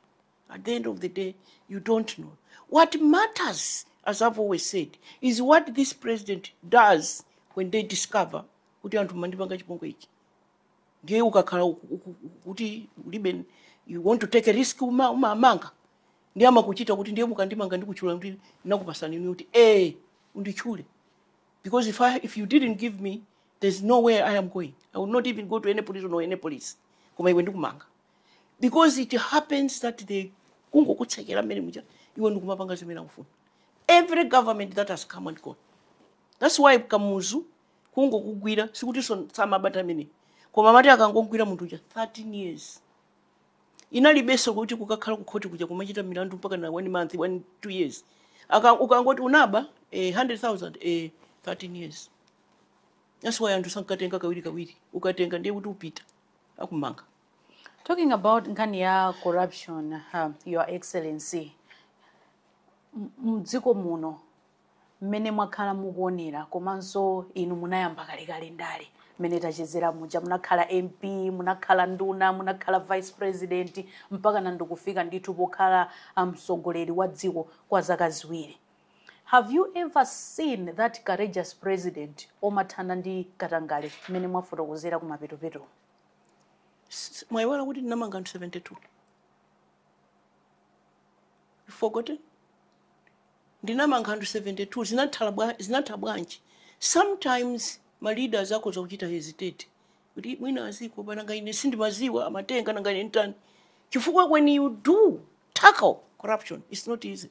At the end of the day, you don't know. What matters, as I've always said, is what this president does when they discover kuti anthu mandipanga chipongwe ichi. Ndiye ukakhala uku- uku- kuti ulibe you want to take a risk uma- umamanga. Ndiye amakuchita kuti ndiye mukandimanga ndikutchula kuti ndakupatsani ndi kuti eh unditchule. Because if I if you didn't give me, there's no way I am going. I will not even go to any prison or any police. Koma iwe ndikumanga. because it happens that they kungokutsekera mmene muja iwe ndikumapanga zimene akufuna every government that has come and gone that's why kamuzu kungokugwira sikuti so- samabata amene koma amati akangogwira munthu uja 13 years inalibenso kuti kukakhala ku court kuja kumachita milandu mpakana one month one two years Aka, ukangoti unaba eh, 100000 eh, 13 years that's why anthu sankatenga kawiri kawiri ukatenga ndiye kuti upita akumanga talking about nkhani ya corruption uh, your excellency M- mdziko muno mmene mwakhala mukuonera komanso inu munayamba kalekale ndale mmene tachezera muja munakhala mp munakhala nduna munakhala vice president mpakana ndikufika ndithu pokhala mtsogoleri wa dziko kwa zaka ziwiri Have you ever seen that courageous president omathana ndi katangale mmene mwafotokozera kumapetopeto? S- Mwaiwala kuti ndinamanga anthu 72. You forgotten? ndinamanga anthu 72 zinathala bwa- zinatha bwanji sometimes ma leaders akhoza kuchita hesitate kuti mwina aziko pananga ine sindimaziwa amatenga nanga ine nditani chifukwa when you do tackle corruption it's not easy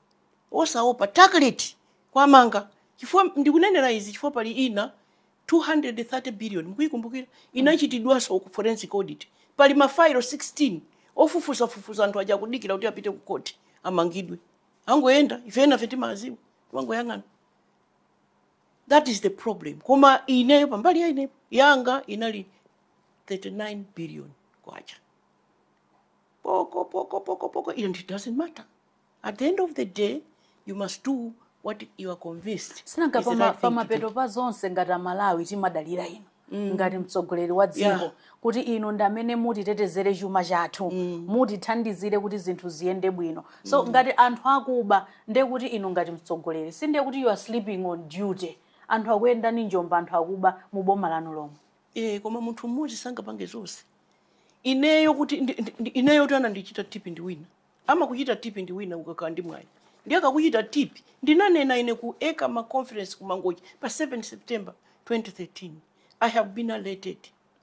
osaopa tackle it kuwamanga chifukwa ndikunenera izi chifukwa pali ina 230 billion mukuyikumbukira inachitidwanso ku forensic audit pali mafailo 16 ofufuzafufuza anthu aja kudikira kuti apite ku koti amangidwe angoyenda ife enafe timawaziwa timangoyang'ana that is the problem koma ineyo pambali ya ineyo yanga inali 39 billion kwacha poko poko poko poko ino it doesn't matter At the end of the day, you must do what you are convinced sinanga is the pama- right thing to do. pamapeto pa zonse ngati amalawi timadalira inu ngati mtsogoleri wa dziko Yeah. kuti inu ndi amene mutitetezere chuma chathu mutithandizire kuti zinthu ziyende bwino so ngati anthu akuba ndiye kuti inu ngati mtsogoleri si ndiye kuti you are sleeping on duty anthu akuyenda ndi njomba anthu akuba mu boma lanu lomwe Eh, koma munthu mmodzi sangapange zonse ineyo kuti ndi- ndi- ndi- ineyotu anandichita tip ndi wina amakuchita tip ndi wina ukakhala ndi mwayi ndiye akakuchita tip ndinanena ine ku ECAMA conference ku mangochi pa 7 september 2013 i have been alerted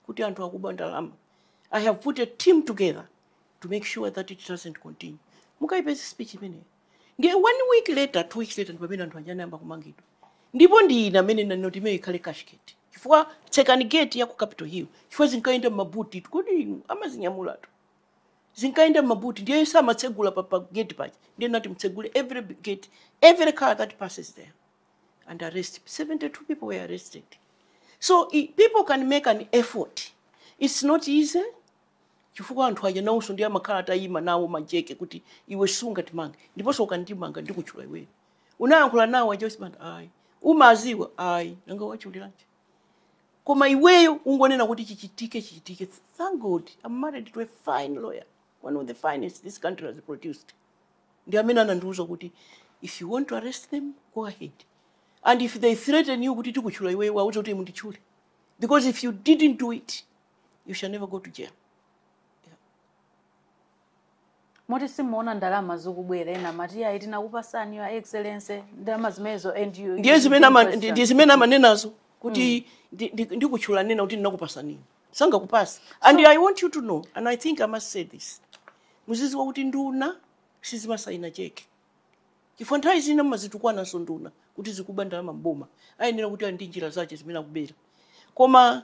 kuti anthu akuba ndalama i have put a team together to make sure that it doesn't continue mukayipeze speech imeneyo ndiye one week later two weeks later ndi pamene anthu aja anayamba kumangidwa ndipo ndi ine amene nanena kuti imeyo ikhale cashgate chifukwa tsekani gate ya ku capital hill chifukwa zinkayenda m'mabuti kuti inu amazinyamulatu zinkayenda m'mabuti ndiye samatsegula pa, pa gate paja ndiye nati mtsegule every gate every car that passes there and arrest 72 people were arrested so i, people can make an effort it's not easy chifukwa anthu aja nawonso ndiye amakhala atayima nawo majeke kuti iwe sungatimange ndiponso ukandimanga ndikutchula iweyo unayankhula nawo aja osibanda ayi umawaziwa ayi nanga wawachuliranji koma iweyo ungonena kuti chichitike chichitike thank god i'm married to a fine lawyer one of the finest this country has produced ndi amene anandiuza kuti if you want to arrest them go ahead and if they threaten you kuti tikutchula iweyo wauze kuti munditchule because if you didn't do it you shall never go to jail moti simumaona ndalama zikubwera ena amati ayi tinakupasani your excellency ndalama zimenezo and you don't question. ndiye zimene ama- ndi- ndi zimene amanenazo kuti ndi- ndi- ndikutchulani ena kuti tinakupasani inu sangakupasa and i want you to know and i think i must say this muziziwa kuti nduna sizimasayina cheke chifukwa nthawi zina mumazitukwananso nduna kuti zikuba ndalama mboma ayenera kuti ali ndi njira zache zimene akubera koma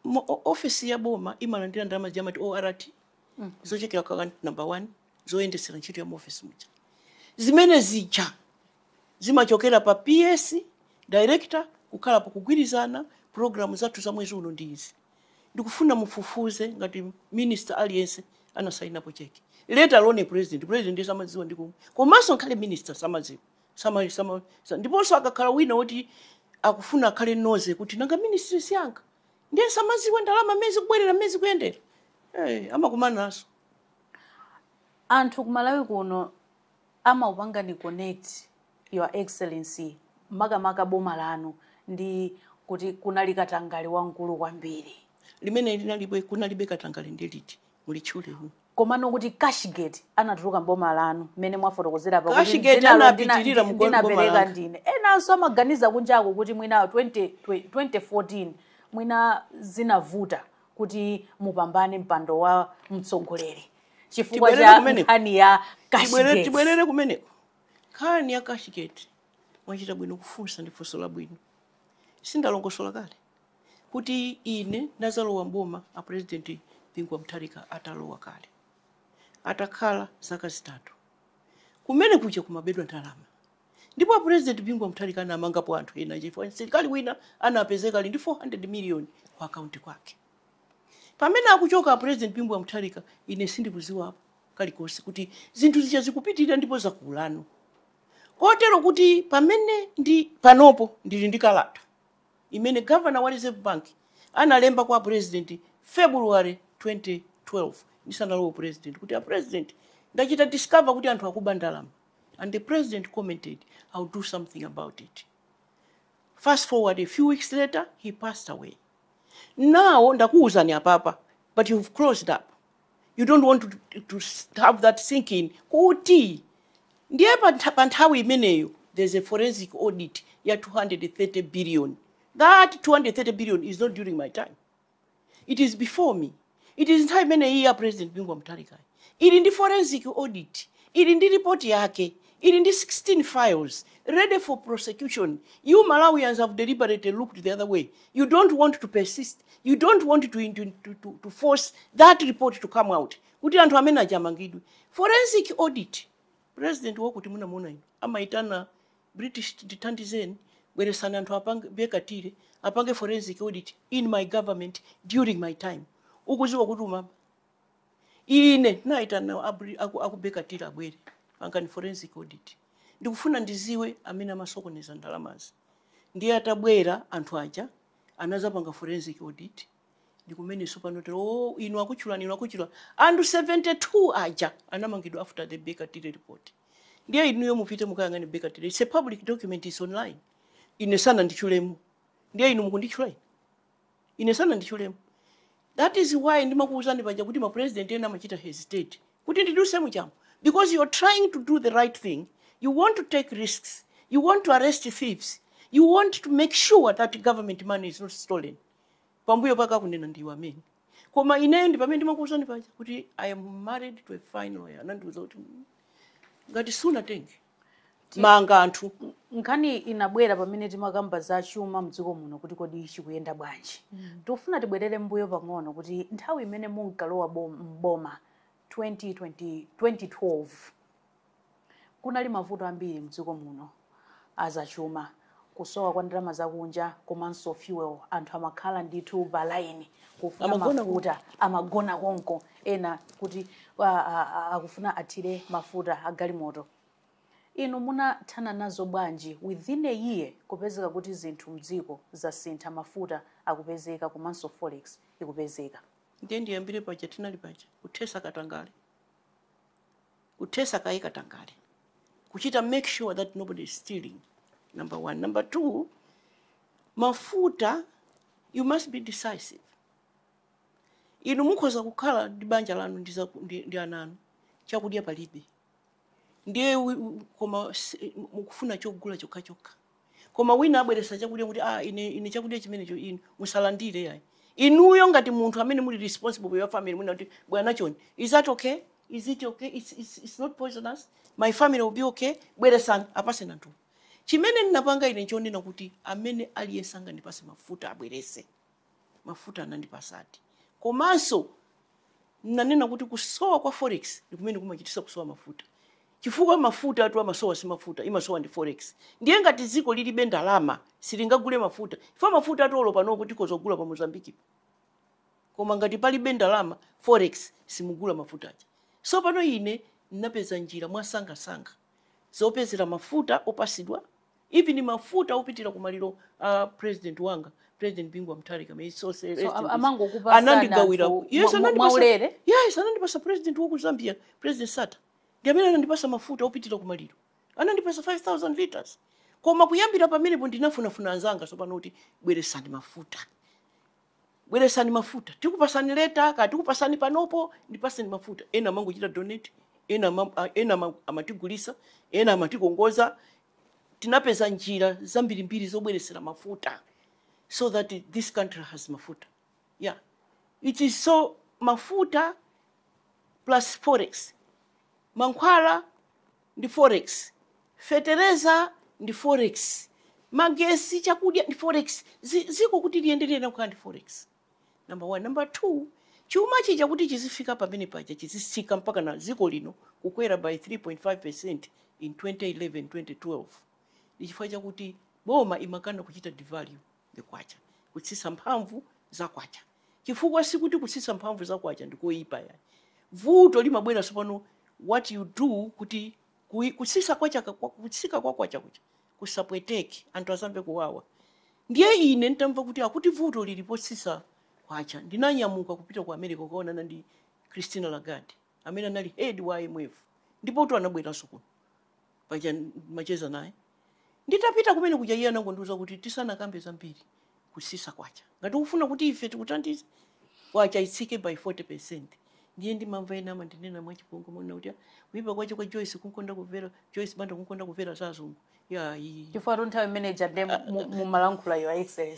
mo- o- ofesi ya boma imalandira ndalama zija amati ort zochokera kwa kan- number one zoyendetsera ntchito ya mu office muja zimene zija zimachokera pa PS director kukhala pakugwirizana programu zathu za mwezi uno ndi izi ndikufuna mufufuze ngati minister aliyense anasainapo cheki let alone president president ndiye samadziwa ndi komwe komanso ngakhale minister samadziwa sama, sama, sa- ndiponso akakhala wina woti akufuna akhale nosy kuti nanga ministry si yanga ndiye samaziwe ndalama mmene zikubwerera mmene zikuyendera Eh, amakumanaso anthu kumalawi kuno amakupangani connect your excellency makamaka boma lanu ndi kuti kunali katangale wamkulu kwambiri limene linalibe kunalibe katangale ndi liti mulitchule inu komano kuti cashgate anatuluka mboma lanu mmene mwafotokozera pa kuti Cashgate anapitirira mu- mboma langa dzinalo ndina- ndi- ndinapereka ndine enanso amaganiza kunjako kuti mwina 20 twe- 2014 mwina zinavuta kuti mupambane mpando wa mtsogoleri chifukwa cha nkhani ya cashgate Tibwerere kumeneko. Tibwerere- tibwerere kumeneko nkhani ya cashgate mwachita bwino kufunsa ndi funso labwino sindalongosola kale kuti ine ndazalowa mboma a president Bingu wa Mutharika atalowa kale atakhala zaka zitatu kumene kuja kumabedwa ndalama ndipo a president Bingu wa Mutharika anamangapo anthu ena chifukwa msilikali wina anapezeka ali ndi 400 million ku akaunti kwake pamene akuchoka a president Bingu wa Mutharika ine sindikuziwapo kalikonse kuti zinthu zija zikupitirira ndipo zakulano kotero kuti pamene ndi panopo ndili ndi kalata imene Governor wa Reserve Bank analemba kwa a President February 2012 ndisanalowe u President kuti a President ndachita discover kuti anthu akuba ndalama and the President commented I'll do something about it. Fast forward a few weeks later he passed away. Now ndakuwuzani apapa but you've closed up. you don't want to, to have that thinking kuti ndiye pa nthawi imeneyo there's a forensic audit ya 230 billion that 230 billion is not during my time it is before me it is nthawi imene ija ya president bingu wa mutharika ili ndi forensic audit ili ndi report yake Ili ndi 16 files ready for prosecution, you Malawians have deliberately looked the other way, you don't want to persist, you don't want to, to, to, to, to force that report to come out kuti anthu amene aja amangidwe. Forensic audit, president wakuti munamuona inu amaitana British tithandizeni bweresani anthu apange Baker Tilly apange forensic audit in my government during my time ukuziwa kuti umama ine naitana abri- aku- aku Baker Tilly abwere pangani forensic audit ndikufuna ndiziwe amene amasokoneza ndalamazi ndiye atabwera anthu aja anazapanga forensic audit ndikumenenso pano tiri o inu akutchulani inu akutchula anthu 72 aja anamangidwa after the Baker Tilly report ndiye inuyo mupite mukayang'ane Baker Tilly it's a public document is online ine sananditchulemu ndiye inu mukunditchula ine ine sananditchulemu that is why ndimakuwuzani paja kuti mapresident ena amachita hesitate kuti ndidutse mchamu because you're trying to do the right thing you want to take risks you want to arrest thieves you want to make sure that government money is not stolen pambuyo pake akunena ndiwo amene koma ineyo ndi pamene ndimakuwuzani paja kuti i am married to a fine lawyer anandiwuza kuti ngati sunatenge manga anthu nkhani inabwera pamene timakamba za chuma mdziko muno kuti kodi chikuyenda bwanji tikufuna tibwerere mbuyo pang'ono kuti nthawi imene munkalowa bom- m'boma 2020 2012 kunali mavuto ambiri mdziko muno azachuma kusowa kwa ndalama zakunja komanso fuel anthu amakhala ndithu pa line kufuna mafuta amagona konko ena kuti wa- a- a- akufuna athire mafuta agalimoto inu munathana nazo bwanji within a year kupezeka kuti zinthu mdziko zasintha mafuta akupezeka komanso forex ikupezeka ndiye ndiyambire paja tinali paja kuthetsa katangale kuthetsa kaye katangale kuchita make sure that nobody is stealing number one number two mafuta you must be decisive inu mukhoza kukhala ndi banja lanu ndi, zaku- ndi, ndi ana anu chakudya palibe ndiye wi- wi- koma si- mukufuna chogula chokhachokha Koma wina abweretsa chakudya kuti ah, ine, ine chakudya chimenecho inu musalandire yayi. Inuyo ngati munthu amene muli responsible for your family munati bwana chonde, is that okay? Is it okay? It's, it's, it's not poisonous. My family will be okay. Bweretsani apatseni anthu. Chimene ndinapanga ine nchonena kuti amene aliyense angandipatse mafuta abweretse. mafuta anandipatsadi komanso nanena kuti kusowa kwa forex ndi kumene kumachititsa kusowa mafuta chifukwa mafuta atu amasowa si mafuta imasowa ndi forex ndiye ngati dziko lilibe ndalama silingagule mafuta chifukwa mafutatu olo panopo tikhoza kugula pa Mozambique po koma ngati palibe ndalama forex simugula mafuta aja so pano ine ndinapeza njira mwasangasanga zopezera mafuta opatsidwa even mafuta opitira ku maliro a president wanga president Bingu wa Mutharika may his soul rest in peace. amangokupatsa anandigawira anthu yes mwa- mwa- anandipatsa mwaulere yes anandipatsa president wa ku Zambia president Sata ndi amene anandipatsa mafuta opitira ku maliro anandipatsa 5000 liters koma kuyambira pamenepo ndinafunafuna anzanga sopano kuti bweretsani mafuta bweresani mafuta tikupasani leta ka tikupasani panopo ndipasani mafuta ena amangochita donate ena ama- a- ena ama- amatigulisa ena amatikongoza tinapeza njira zambirimbiri zobweresera mafuta so that this country has mafuta yeah it is so mafuta plus forex mankhwala ndi forex, fetereza ndi forex, magesi, chakudya ndi forex, dziko kuti liyende liyenera kukhala ndi forex number one. Number two, chuma chija kuti chizifika pamene paja chizitsika mpaka na dziko lino kukwera by 3.5 percent in 2011 2012 ndi chifukwa chakuti boma limakana kuchita devalue. the kwacha, kutsitsa mphamvu za kwacha. Chifukwa sikuti kutsitsa mphamvu za kwacha ndi koyipa yayi. Vuto limabwera tsopano what you do kuti kutsitsa kwacha kutsika kwa kwacha kuja kusapweteke anthu asamve kuwawa. Ndiye ine ntamva kuti akuti vuto lili potsitsa kwacha ndinanyamuka kupita ku America kukaonana ndi Christina Lagarde amene anali head wa IMF ndipotu anabweranso kuno paja macheza naye Nditapita kumene kuja iye anangondiuza kuti tisanakambe zambiri kusisa kwacha. Ngati ukufuna kuti ife tikuthandize, kwacha itsike by 40%. Ndiye ndimamva ena amandinena mwachipongwe monena kuti "Ah, kuipa kwache kwa Joyce kukonda kumvera, Joyce Banda kukonda kumvera za azungu. Yayi. chifukwatu nthawi imene ija nde mu- mumalankhula your excellency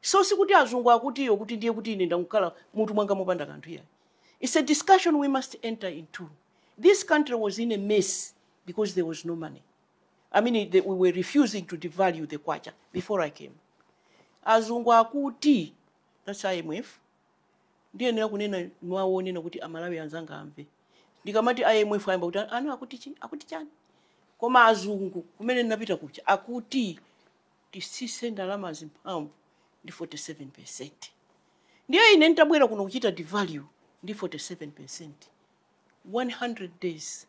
so sikuti azungu akuti iyo kuti ndiye kuti ine ndangokhala mutu mwanga mopanda kanthu iyayi its a discussion we must enter into this country was in a mess because there was no money i mean the, we were refusing to devalue the kwacha before i came azungu akuti that's imf ndiyenera kunena mwa onena kuti amalawi anzanga amve ndikamati imf ayamba kuti aaa akuti chi akuti chani koma azungu kumene ndinapita kuja akuti titsitse ndalamazi mphamvu ndi 47%. Ndiye ine nitabwera kuno kuchita devalue ndi 47%. 100 days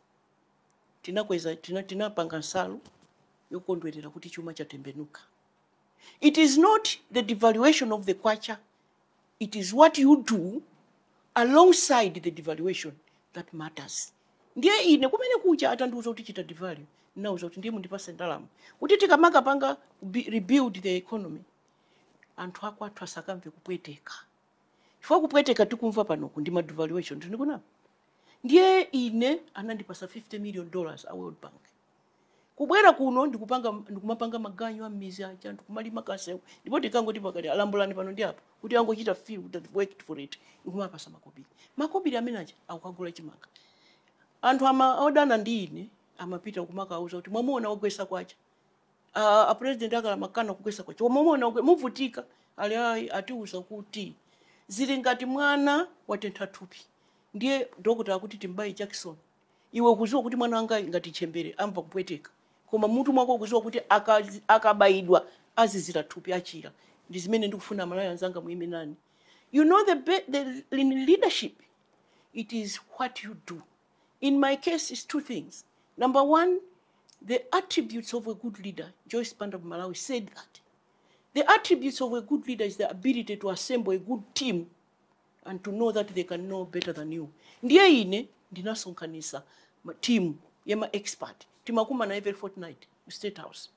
tinakweza tina, tinapanga nsalu yokondwerera kuti chuma chatembenuka. It is not the devaluation of the kwacha it is what you do alongside the devaluation that matters ndiye ine kumene kuja atandiuza kuti chita devalue ndinawauza kuti ndiye mundipase ndalama kuti tikamakapanga bi- rebuild the economy anthu akwathu asakamve kupweteka chifukwa kupweteka tikumva panoku ndi ma devaluation tikunenapa ndiye ine anandipasa 50 million dollars a world bank kubwera kuno ndikupanga ndikumapanga maganyu a mmidzi aja ndikumalima kamsewu ndipo tikangoti pakati lambulani pano ndi apo kuti angochita feel that they've worked for it ndikumapasa makobiri makobiri amene aja akukagula chimanga anthu odana ndi ine amapita kumakauza kuti mwamuona wagwesa kwacha a a president akale amakana kugwesa kwacha mwamuona wagwe- muvutika ali ayi atiuza kuti zili ngati mwana watentha thupi ndiye dokotala akuti timbaye jakisoni Iwe ukuziwa kuti mwana wangayu ngati ntchembere amva kupweteka koma mmutu mwako ukuziwa kuti akazi, akabayidwa azizira thupi achira ndi zimene ndikufuna amalawi anzanga muime nane you know the, be, the in leadership it is what you do in my case is two things number one the attributes of a good leader joyce banda of malawi said that the attributes of a good leader is the ability to assemble a good team and to know that they can know better than you ndiye ine ndinasonkhanisa team ya ma expert timakumana every fortnight ku state house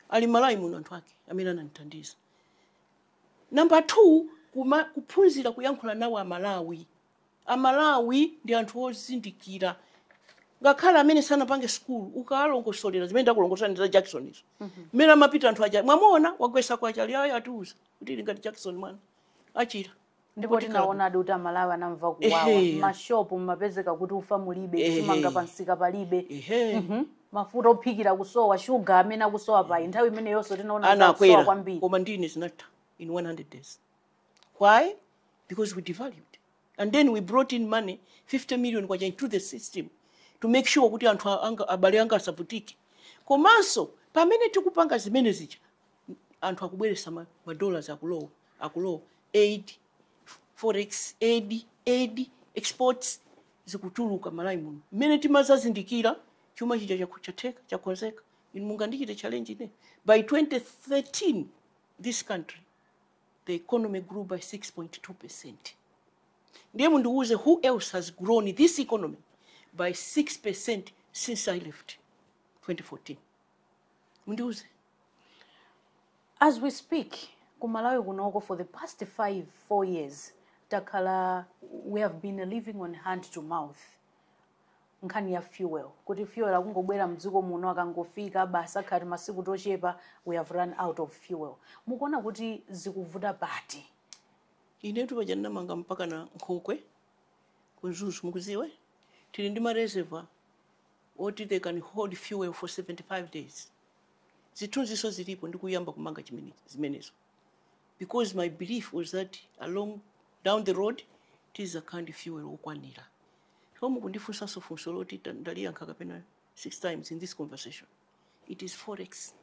ali mmalawi muno anthu ake amene anandithandiza namba two kuma, kuphunzira kuyankhula nawo amalawi amalawi ndi anthu ozindikira ngakhale amene sanapite sukulu ukawalongosolera zimene ndakulongosolerani za jakisoni izo mmene amapita anthu aja mwamuona wagwesa kwacha ali ayi atiuza kuti zili ngati jakisoni mwana achira ndipo Kuti kalabu- tinaonadi kuti amalawi anamva kuwawa Ehe. mashopu mumapezeka kuti ufa mulibe Ehe. chimanga pamsika palibe Ehe. Mhm. mafuta ophikira kusowa shuga amene akusowa pa nthawi imeneyonso tinaona kuti akusowa anakwera kwambiri komadi zinatha in 100 days why because we devalued and then we brought in money 50 million kwacha into the system to make sure kuti anthu a- anga- abale anga asavutike komanso pamene tikupanga zimene zija anthu akubweresa ma, ma dollars akulowa akulowa aid forex aid aid exports zikutuluka mmalawi muno mmene timazazindikira chuma chija chakho- chatheka chakonzeka inu mungandichite challenge ine by 2013 this country the economy grew by 6.2 percent ndiye mundiwuze who else has grown this economy by 6 percent since i left 2014 mundiuze as we speak ku malawi kunoko for the past 5 4 years takhala we have been living on hand to mouth nkhani ya fuel kuti fuel akungobwera mdziko muno akangofika basi akatha timasiku tochepa we have run out of fuel mukuona kuti zikuvuta pati inetu paja ndinamanga mpaka na nkhokwe ku mzuzu mukuziwe tili ndi mareservoir oti they can hold fuel for 75 days zithunziso zilipo ndikuyamba kumanga zimenezo because my belief was that down the road tizakhala ndi fuel wokwanira so mukundifunsanso funso loti ta- ndaliyankha kapena six times in this conversation it is forex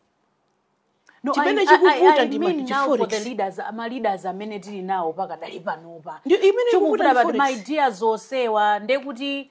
No, I- I- I- I mean now for the leaders, Chimene chikuvuta ndi forex. ma leaders amene tili nawo pakadali panopa Chikuvuta ndi forex. ma idea zosowa ndekuti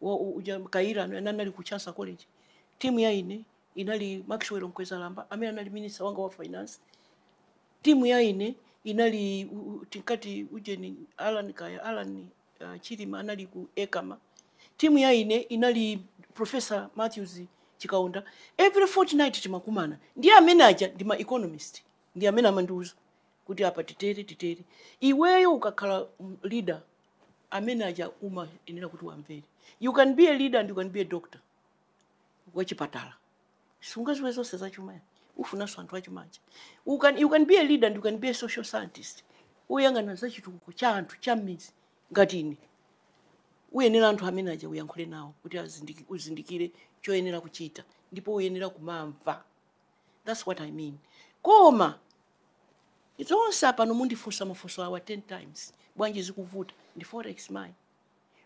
wa u- uja kaira anali ku chansa college timu ya ine inali maxwell mkwezalamba amene anali minister wanga wa finance timu ya ine inali u- u- tinkati ujeni alan kaya alan uh, chilima anali ku ekama timu ya ine inali professor matthews chikaonda every fortnight timakumana ndiye amene aja ndi ma economist ndi amene amandiuza kuti apa titere titere iweyo ukakhala mm, leader amene aja umayenera kuti uwamvere you can be a leader and you can be a doctor wachipatala sungaziwe zonse zachuma ayi ufunanso anthu achuma aja you can, you can be a leader and you can be a social scientist uyang'ana za chitukuko cha anthu cha m'mizi ngati ine uyenera anthu amene aja uyankhule nawo kuti uzindikire choyenera kuchita ndipo uyenera kumamva that's what i mean koma Izo zonse pano mundifunsa mafunso awa 10 times. Bwanji zikuvuta ndi forex mai?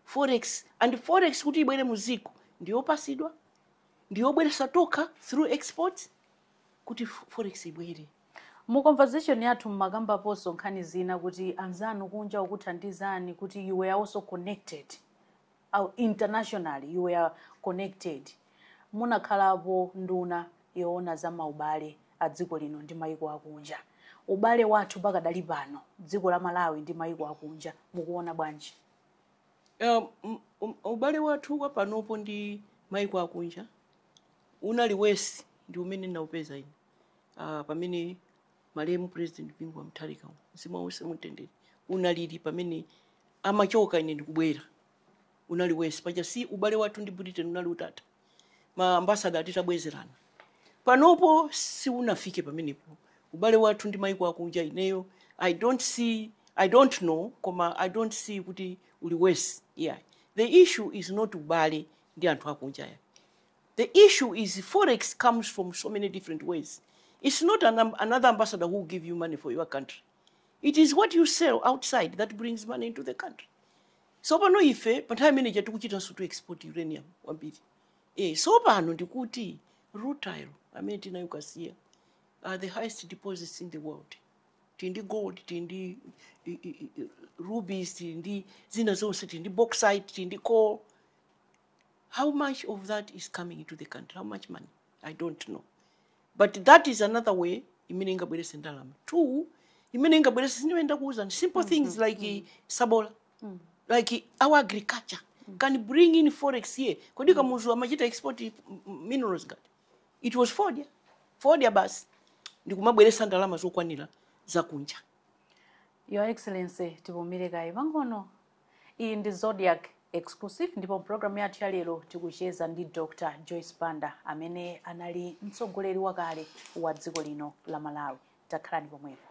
Forex ndi forex kuti ibwere mu dziko ndiyopasidwa ndiyobweresa tokha through exports kuti forex ibwere. Mu conversation yathu mmakambaponso nkhani zina kuti anzanu kunja akuthandizani kuti you were also connected internationally you were connected munakhalapo nduna yoona za maubale a dziko lino ndi maiko akunja ubale wathu pakadali pano dziko la malawi ndi maiko akunja mukuona bwanji Um, m- um, ubale wathu wa panopo ndi maiko akunja unali worse ndi umene naupeza ine uh, pamene malemu president bingu wa mutharika mzimu wawo uuse mumtendere unalili pamene amachoka ine ndikubwera unali worse paja si ubale wathu ndi britain unali utatha ma ambassador atitabwezerana panopo siunafike pamenepo ubale wathu ndi maiko akunja ineyo i don't see i don't know koma i don't see kuti uli worse yeah. the issue is not ubale ndi anthu akunja ayi The issue is forex comes from so many different ways, its not another ambassador who will give you money for your country, it is what you sell outside that brings money into the country. So pano ife pa nthawi yanga ija tikuchitanso to export uranium kwambiri e, so pano ndikuti rutile amene tinayo kasiya are the highest deposits in the world tili ndi gold tili ndi i- i- i- rubies tili ndi zina zonse tili ndi bauxite tili ndi coal how much of that is coming into the country how much money i don't know but that is another way imene ingabwerese ndalama two imene ingabwerese si ndiye ndakuwuzani simple things like sabola like our agriculture can bring in forex here kodi kamuzu amachita export m- m- minerals angati it was fodya fodya basi ndikumabweresa ndalama zokwanira zakunja your excellency tipumire kaye pang'ono iyi ndi zodiac exclusive ndipo mpulogalamu yathu ya lero tikucheza ndi dr joyce banda amene anali mtsogoleri wakale wa dziko lino la malawi takhalani pomwepo